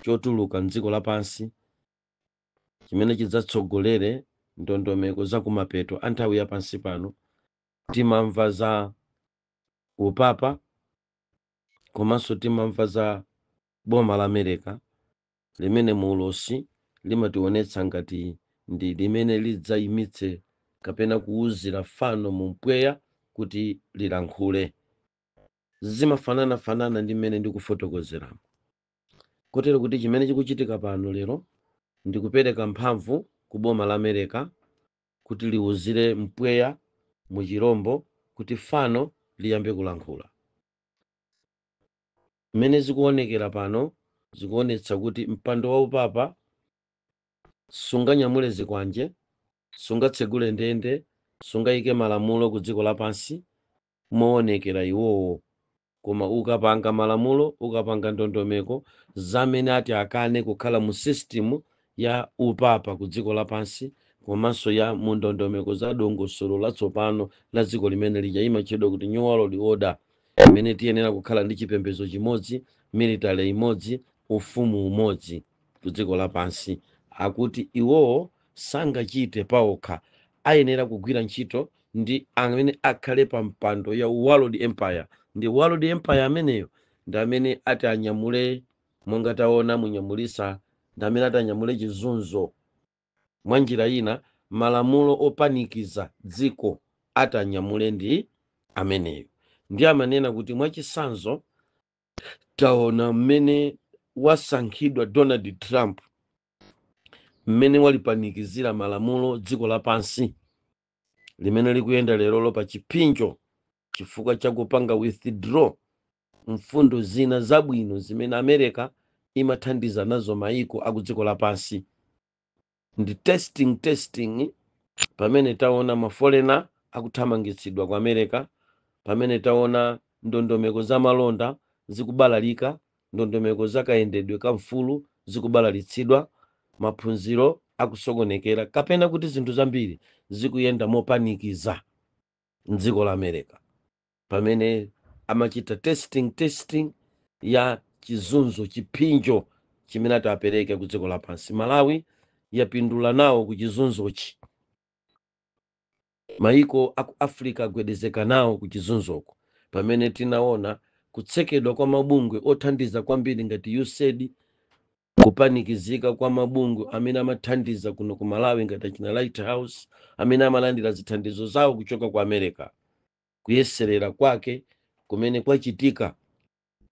chotuluka m'dziko lapansi chimene chidzatsogolere ndondomeko za kumapeto a nthawi ya pansi pano, timamva za upapa komanso timamva za Boma la Amereka, limene mu ulosi limationetsa ngati ndi limene lidzaimitse kapena kuuzira fano mpweya kuti lilankhule, zimafanana-fanana ndi mmene ndikufotokozeramu. Kotero kuti chimene chikuchitika pano lero ndi kupereka mphamvu ku boma la Amereka kuti liuzire mpweya mu chirombo kuti fano liyambe kulankhula. Zimene zikuonekera pano zikuonetsa kuti mpando wa upapa sunganyamule zikwanje, sungatsegule ndende, sungaike malamulo ku dziko lapansi moonekera iwowo, koma ukapanga malamulo, ukapanga ndondomeko za amene ati akane kukhala mu system ya upapa ku dziko lapansi komanso ya mu ndondomeko za dongosolo latsopano la dziko limene ija imatchedwa kuti New World Order. imene tiyenera kukhala ndi chipembedzo chimodzi, military imodzi, ufumu umodzi ku dziko lapansi. Akuti iwowo sangachite paokha, ayenera kugwira ntchito ndi amene akhale pa mpando ya world empire. Ndi world empire ameneyo ndi amene ati anyamule, monga taona munyamulisa, ndi amene ati anyamule chizunzo mwanjira ina malamulo opanikiza dziko ati anyamule ndi ameneyo ndiye amanena kuti mwachitsanzo taona mmene wasankhidwa donald trump mmene walipanikizira malamulo dziko lapansi limene likuyenda lerolo pa chipsinjo chifukwa cha kupanga withdraw mfundo zina zabwino zimene America imathandiza nazo maiko akudziko lapansi. Ndi testing testing pamene taona ma foreigner akuthamangitsidwa ku America, pamene taona ndondomeko za malonda zikubalalika, ndondomeko za kayendedwe ka ufulu zikubalalitsidwa, maphunziro akusokonekera kapena kuti zinthu zambiri zikuyenda mopanikiza m'dziko la America. pamene amachita testing testing ya chizunzo chiphinjo chimene ati apereke ku dziko lapansi malawi yapindula nawo ku chizunzochi maiko aku africa agwedezeka nawo ku chizunzoko pamene tinaona kutsekedwa kwa mabungwe othandiza kwambiri ngati usaid kupanikizika kwa mabungwe amene amathandiza kuno ku malawi ngati achina lighthouse amene amalandira zithandizo zawo kuchoka ku america kuyeserera kwake kumene kwachitika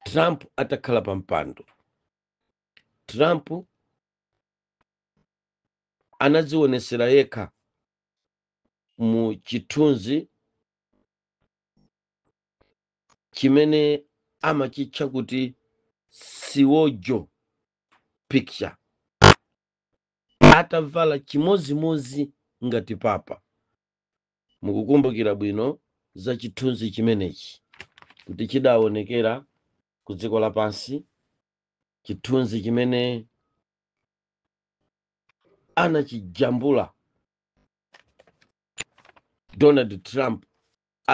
trump atakhala pa mpando trump anadzionesera yekha mu chithunzi chimene amachitcha kuti siwojo picture atavala chimozimozi ngati papa Mukukumbukira bwino za chithunzi chimenechi kuti chidaonekera ku dziko lapansi, chithunzi chimene anachijambula Donald Trump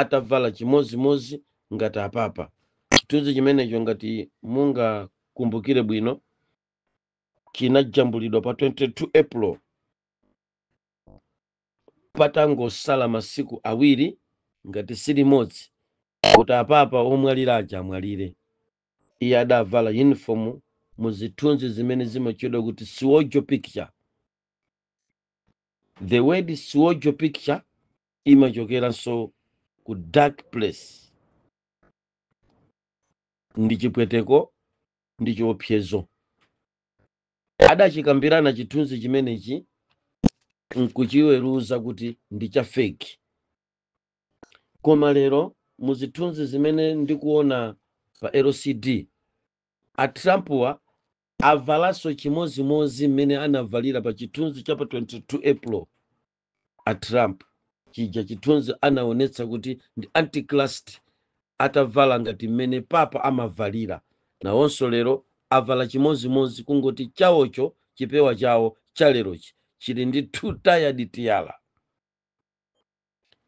atavala chimozimozi ngati apapa. Chithunzi chimenecho ngati mungakumbukire bwino chinajambulidwa pa 22 April patangosala masiku awiri ngati si limodzi kuti apapa omwalira aja amwalire, iye adavala yunifomu mu zithunzi zimene zimatchedwa kuti siwojo picture. The word siwojo picture imachokeranso ku dark place, ndi chipweteko ndi chiopsezo. adachikambirana chithunzi chimenechi nkuchiweruza kuti ndi cha feki koma lero mu zithunzi zimene ndikuona pa lcd a trumpwa avalanso chimozimozi mmene anavalira pa chithunzi cha pa 22 april a trump chija chithunzi anaonetsa kuti ndi antichrist atavala ngati mmene papa amavalira nawonso lero avala chimozimozi kungoti chawocho chipewa chawo chalerochi chili ndi two tiered tiara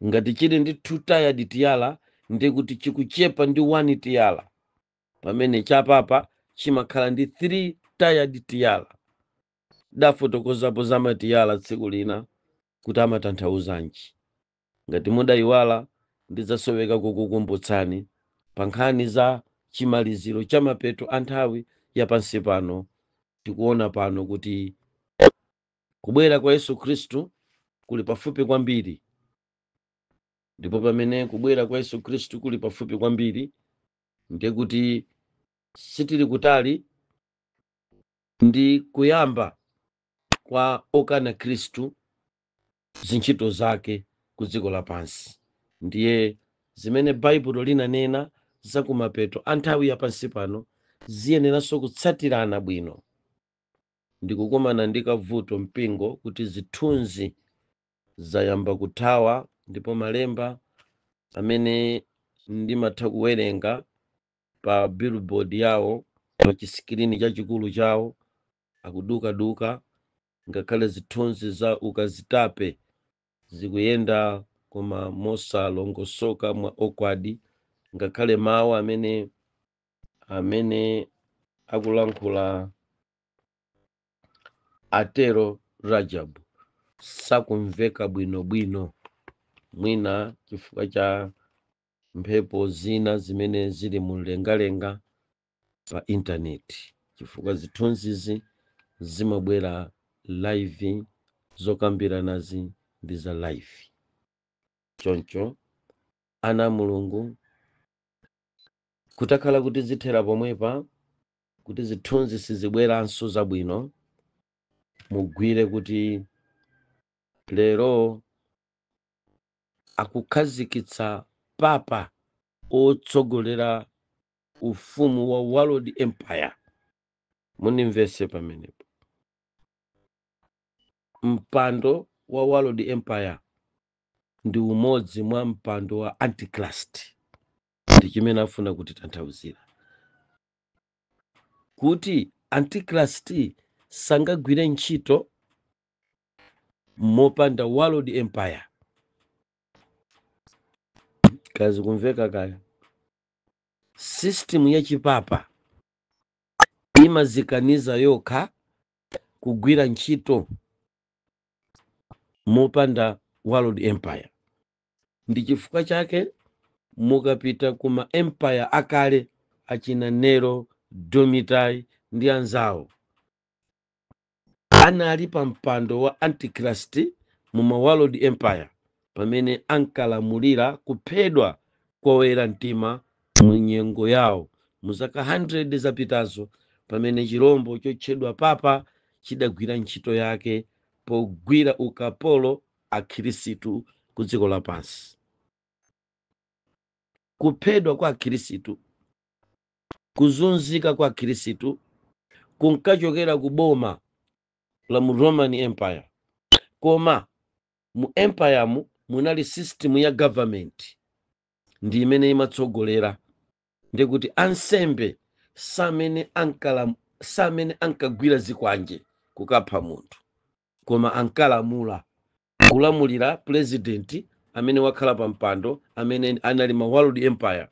ngati chili ndi two tiered tiara ndi kuti chikuchepa ndi one tiara pamene chapapa chimakhala ndi three tiered tiara Ndafotokozapo zamatiyala tsiku lina kuti amatanthauzanji. Ngati mudayiwala ndidzasoweka kukukumbutsani pa nkhani za chimaliziro cha mapeto a nthawi ya pansi pano. Tikuona pano kuti kubwera kwa Yesu Khristu kuli pafupi kwambiri. Ndipo pamene kubwera kwa Yesu Khristu kuli pafupi kwambiri, ndiye kuti sitili kutali ndi kuyamba kwa okana khristu zintchito zake ku dziko lapansi ndiye zimene baibulo linanena za kumapeto a nthawi yapansi pano ziyeneranso kutsatirana bwino ndikukumana ndi kavuto mpingo kuti zithunzi zayamba kuthawa ndipo malemba amene ndimatha kuwerenga pa billboard yawo pa chisikirini chachikulu chawo akudukaduka ngakhale zithunzi za ukazitape zikuyenda koma mosalongosoka mwa okwadi ngakhale mawu amene amene akulankhula atero rajab sakumveka bwinobwino mwina chifukwa cha mphepo zina zimene zili mu mlengalenga pa intaneti chifukwa zithunzizi zimabwera live zokambiranazi ndi za live choncho ana a mulungu kutakhala kuti zithera pomwepa kuti zithunzi sizibweranso zabwino mugwire kuti lero akukhazikitsa papa otsogolera ufumu wa world empire mundimvetse pamenepo mpando wa world empire ndi umodzi mwa mpando wa antichrist ndi chimene afuna kutitanthauzira kuti antichrist sangagwire ntchito mopanda world empire kazikumveka kaya system ya chipapa imazikaniza yokha kugwira ntchito mopanda world empire ndi chifukwa chake mukapita ku ma empire akale achina nero domitai ndi anzawo anali pa mpando wa Antichrist mu ma World Empire pamene ankalamulira kuphedwa kwa oyera mtima mu nyengo yawo mu zaka 100 zapitazo pamene chirombo chotchedwa papa chidagwira ntchito yake pogwira ukapolo akhirisitu ku dziko lapansi. Kuphedwa kwa akhirisitu Kuzunzika kwa Akhirisitu kunkachokera ku boma la mu Roman Empire. Koma mu Empire mu munali system ya government ndi imene imatsogolera. Ndikuti ansembe samene ankagwira zikwanje kukapha munthu koma ankalamula kulamulira pulezidenti amene wakhala pa mpando amene anali mu world empire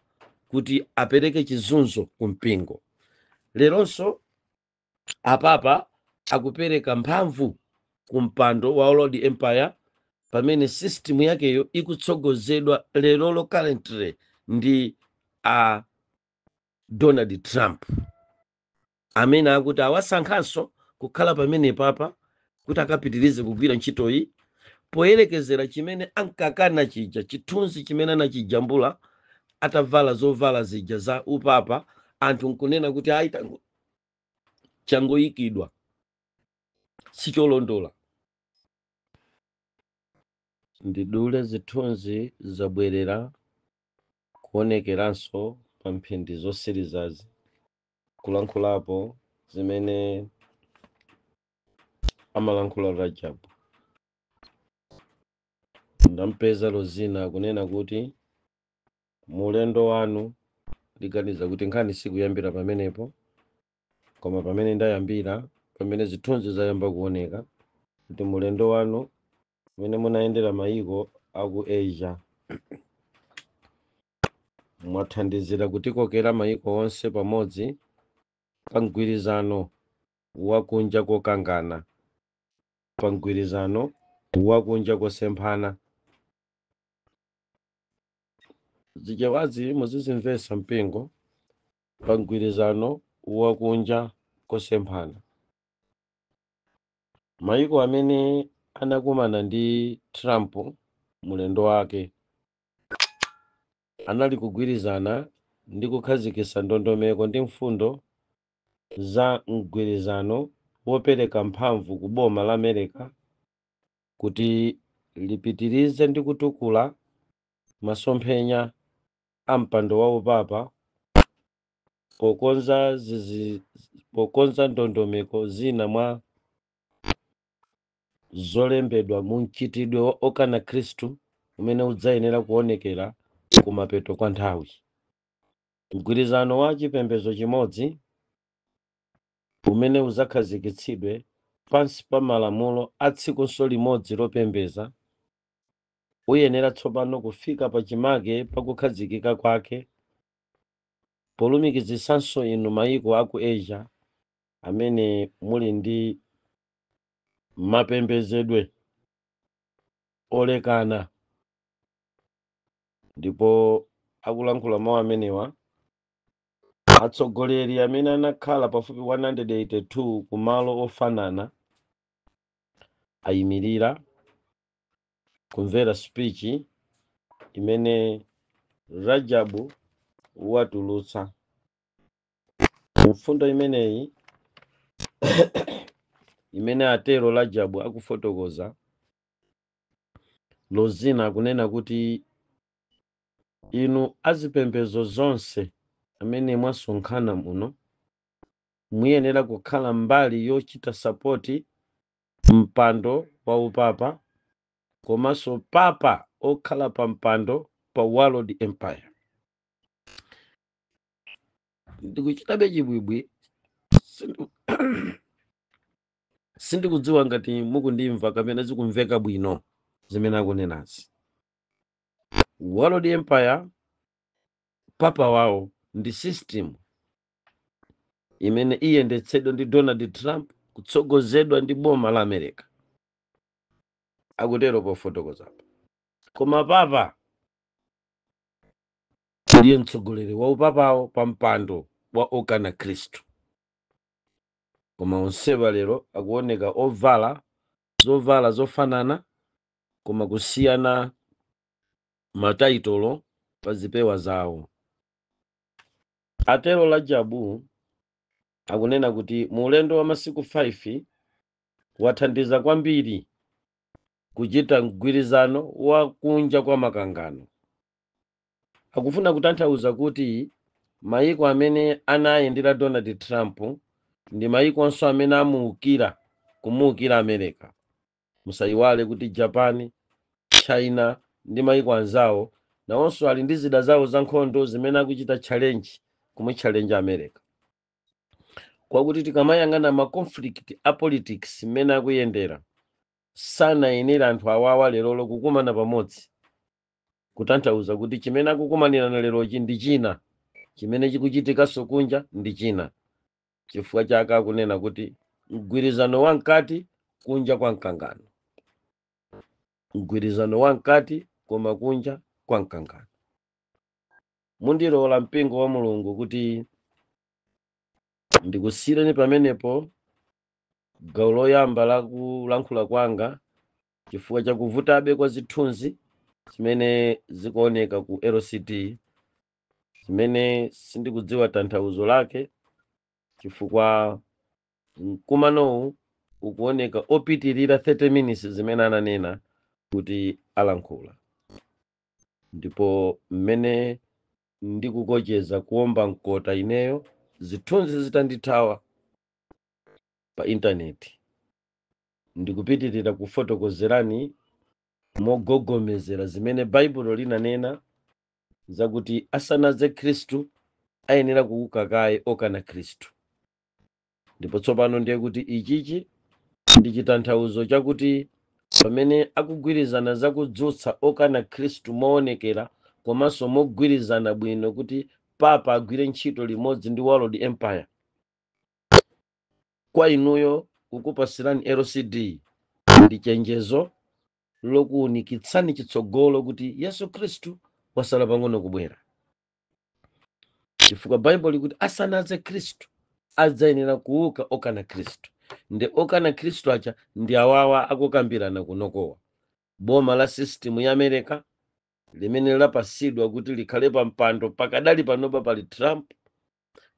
kuti apereke chizunzo ku mpingo leronso apapa akupereka mphamvu ku mpando wa world empire pamene system yakeyo ikutsogozedwa lerolo currently ndi a donald trump amene akuti awasankhanso kukhala pamene papa kuti akapitirize kugwira ntchitoyi poyerekezera chimene ankakana chija, chithunzi chimene anachijambula atavala zovala zija za upapa, anthu nkunena kuti ayi changoyikidwa sicholondola. Ndidule zithunzi zabwerera kuonekeranso pa mphindi zosirizazi. kulankhulapo zimene amalankhula Rajab. Ndampeza Rozina akunena kuti mu ulendo wanu ndiganiza kuti nkhani sikuyambira pamenepo koma pamene ndayambira pamene zithunzi zayamba kuoneka kuti mu ulendo wanu umene munayendera mayiko aku Asia mwathandizira kutikokera mayiko onse pamodzi pa mgwirizano wa kunja kokangana, pa mgwirizano wa kunja kosemphana. Zichewazi muzizimvetsa mpingo pa mgwirizano wa kunja kosemphana. Mayiko amene anakumana ndi Trump mu ulendo wake anali kugwirizana ndi kukhazikitsa ndondomeko ndi mfundo za mgwirizano wopereka mphamvu ku boma la Mereka kuti lipitirize ndi kutukula masomphenya a mpando wa upapa pokonza zizi, pokonza ndondomeko zina mwa zolembedwa mu mchitidwe wa okana Khristu umene udzayenera kuonekera kumapeto kwa nthawi. Mgwirizano wa chipembedzo chimodzi umene udzakhazikitsidwe pansi pa malamulo a tsikunso limodzi lopembeza uyenera tsopano kufika pachimake pa kukhazikika kwake polumikizitsanso inu mayiko a ku Asia amene muli ndi mapembezedwe olekana ndipo akulankhula mawu amenewa atsogoleri amene anakhala pafupi 182 ku malo ofanana ayimirira kumvera spichi imene Rajabu watulutsa mfundo imeneyi imene atero Rajabu akufotokoza losina kunena kuti inu azipembedzo zonse amene mwasonkhana muno muyenera kukhala mbali yochita sapoti mpando wa upapa komanso papa okhala pa mpando pa world empire ndikuchitabe chibwibwi Sindu- sindikudziwa ngati mukundimva kapena zikumveka bwino zimene akunenazi world empire papa wawo ndi system imene iyendetsedwa ndi donald trump kutsogozedwa ndi boma la america akutero pofotokozapo koma papa ndiye mtsogoleri wa upapawo pa mpando wa okana khristu koma onsewa lero akuoneka ovala zovala zofanana koma kusiyana mataitolo pa zipewa zawo atero Rajabu akunena kuti mu ulendo wa masiku 5 wathandiza kwambiri kuchita mgwirizano wa kunja kwa makangano Akufuna kutanthauza kuti mayiko amene anayendera Donald Trump ndi mayikonso amene amuukira, kumuukira America. Musayiwale kuti Japan, China ndi mayiko anzawo nawonso ali ndi zida zawo zankhondo zimene akuchita challenge, kumuchallenger America. Kwakuti tikamayang'ana ma conflict a politics mmene akuyendera, sanayenera anthu awawa lerolo kukumana pamodzi kutanthauza kuti chimene akukumanirana lerochi ndi china chimene chikuchitikanso kunja ndi china chifukwa chake akunena kuti mgwirizano wa mkati kunja kwa mkangano mgwirizano wa mkati koma kunja kwa mkangano mundilola mpingo wa mulungu kuti ndikusiyireni pamenepo gawo loyamba la kulankhula kwanga chifukwa cha kuvutabe kwa zithunzi zimene zikuoneka ku lcd zimene sindikudziwa tanthauzo lake chifukwa mkumanowu ukuoneka opitirira 30 minutes zimene ananena kuti alankhula ndipo mmene ndikucheza kuomba mkota ineyo zithunzi zitandithawa pa intaneti Ndikupitirira kufotokozerani mogogomezera zimene Baibulo linanena zakuti asanadze Khristu ayenera kuuka kaye okana Khristu. Ndipo tsopano ndiye kuti ichichi ndi chitanthauzo chakuti pamene akugwirizana zakudzutsa okana Khristu moonekera komanso mogwirizana bwino kuti papa agwire ntchito limodzi ndi World Empire. Kwa inuyo kukupatsirani LCD ndi chenjezo lokuunikitsani chitsogolo kuti Yesu Khristu wasala pang'ono kubwera. Chifukwa Baibulo likuti asanadze Khristu adzayenera kuuka okana Khristu. Ndi okana Khristu aja ndi awawa akukambirana kunokowa. Boma la system ya America limene lapatsidwa kuti likhale pa mpando pakadali panopa pali Trump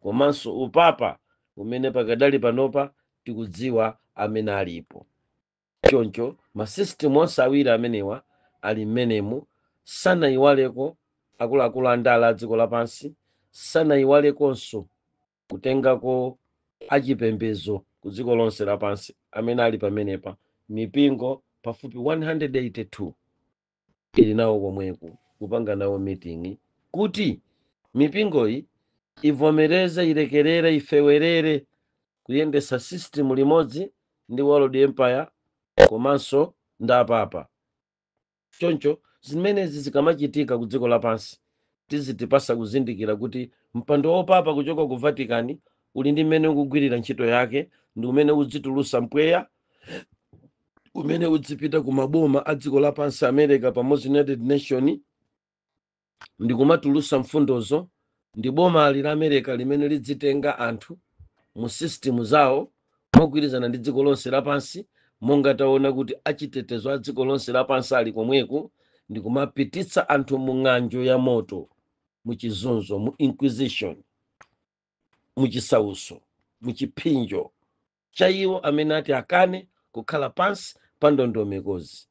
komanso upapa umene pakadali panopa tikudziwa amene alipo choncho masisitimu onse awiri amenewa ali mmenemu sanayiwaleko akuluakulu a ndale a dziko lapansi sanayiwalekonso kutengako achipembezo ku dziko lonse lapansi amene ali pamenepa mipingo pafupi 182 tili nawo komweku kupanga nawo meeting kuti mipingoyi ivomereze ilekerere ifewerere kuyendesa system limodzi ndi world empire komanso ndi apapa choncho zimenezi zikamachitika ku dziko lapansi tizitipatsa kuzindikira kuti mpando wa papa kuchoka ku vatican uli ndi mmene ukugwirira ntchito yake ndi umene udzitulutsa mpweya umene udzipita ku maboma a dziko lapansi america pamodzi united nation ndi kumatulutsa mfundozo ndi bomali la america limene lidzitenga anthu mu system zawo mogwirizana ndi dziko lonse lapansi monga taona kuti achitetezo a dziko lonse lapansi ali komweku ndi kumapititsa anthu mu ng'anjo ya moto mu chizunzo mu inquisition mu chisauso mu chiphinjo cha iwo amene ati akane kukhala pansi pa ndondomekozi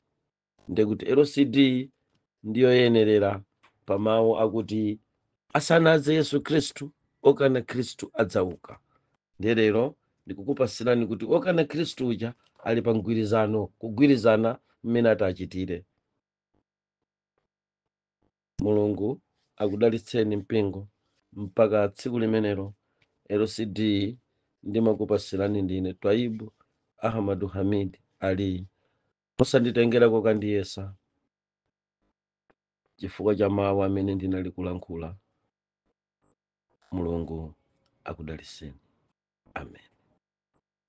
ndiye kuti lcd ndiyoyenerera pa mawu akuti asanadze yesu khristu okana khristu adzauka ndiye lero ndikukupatsirani kuti okana khristu uja ali pa mgwirizano kugwirizana mmene ati achitire Mulungu akudalitseni mpingo mpaka tsiku limenelo lcd ndimakupatsirani ndine twaibu Ahmadu Hamid Aliy osanditengera kokandiyesa chifukwa cha mawu amene ndinali kulankhula Mulungu akudalitseni amen.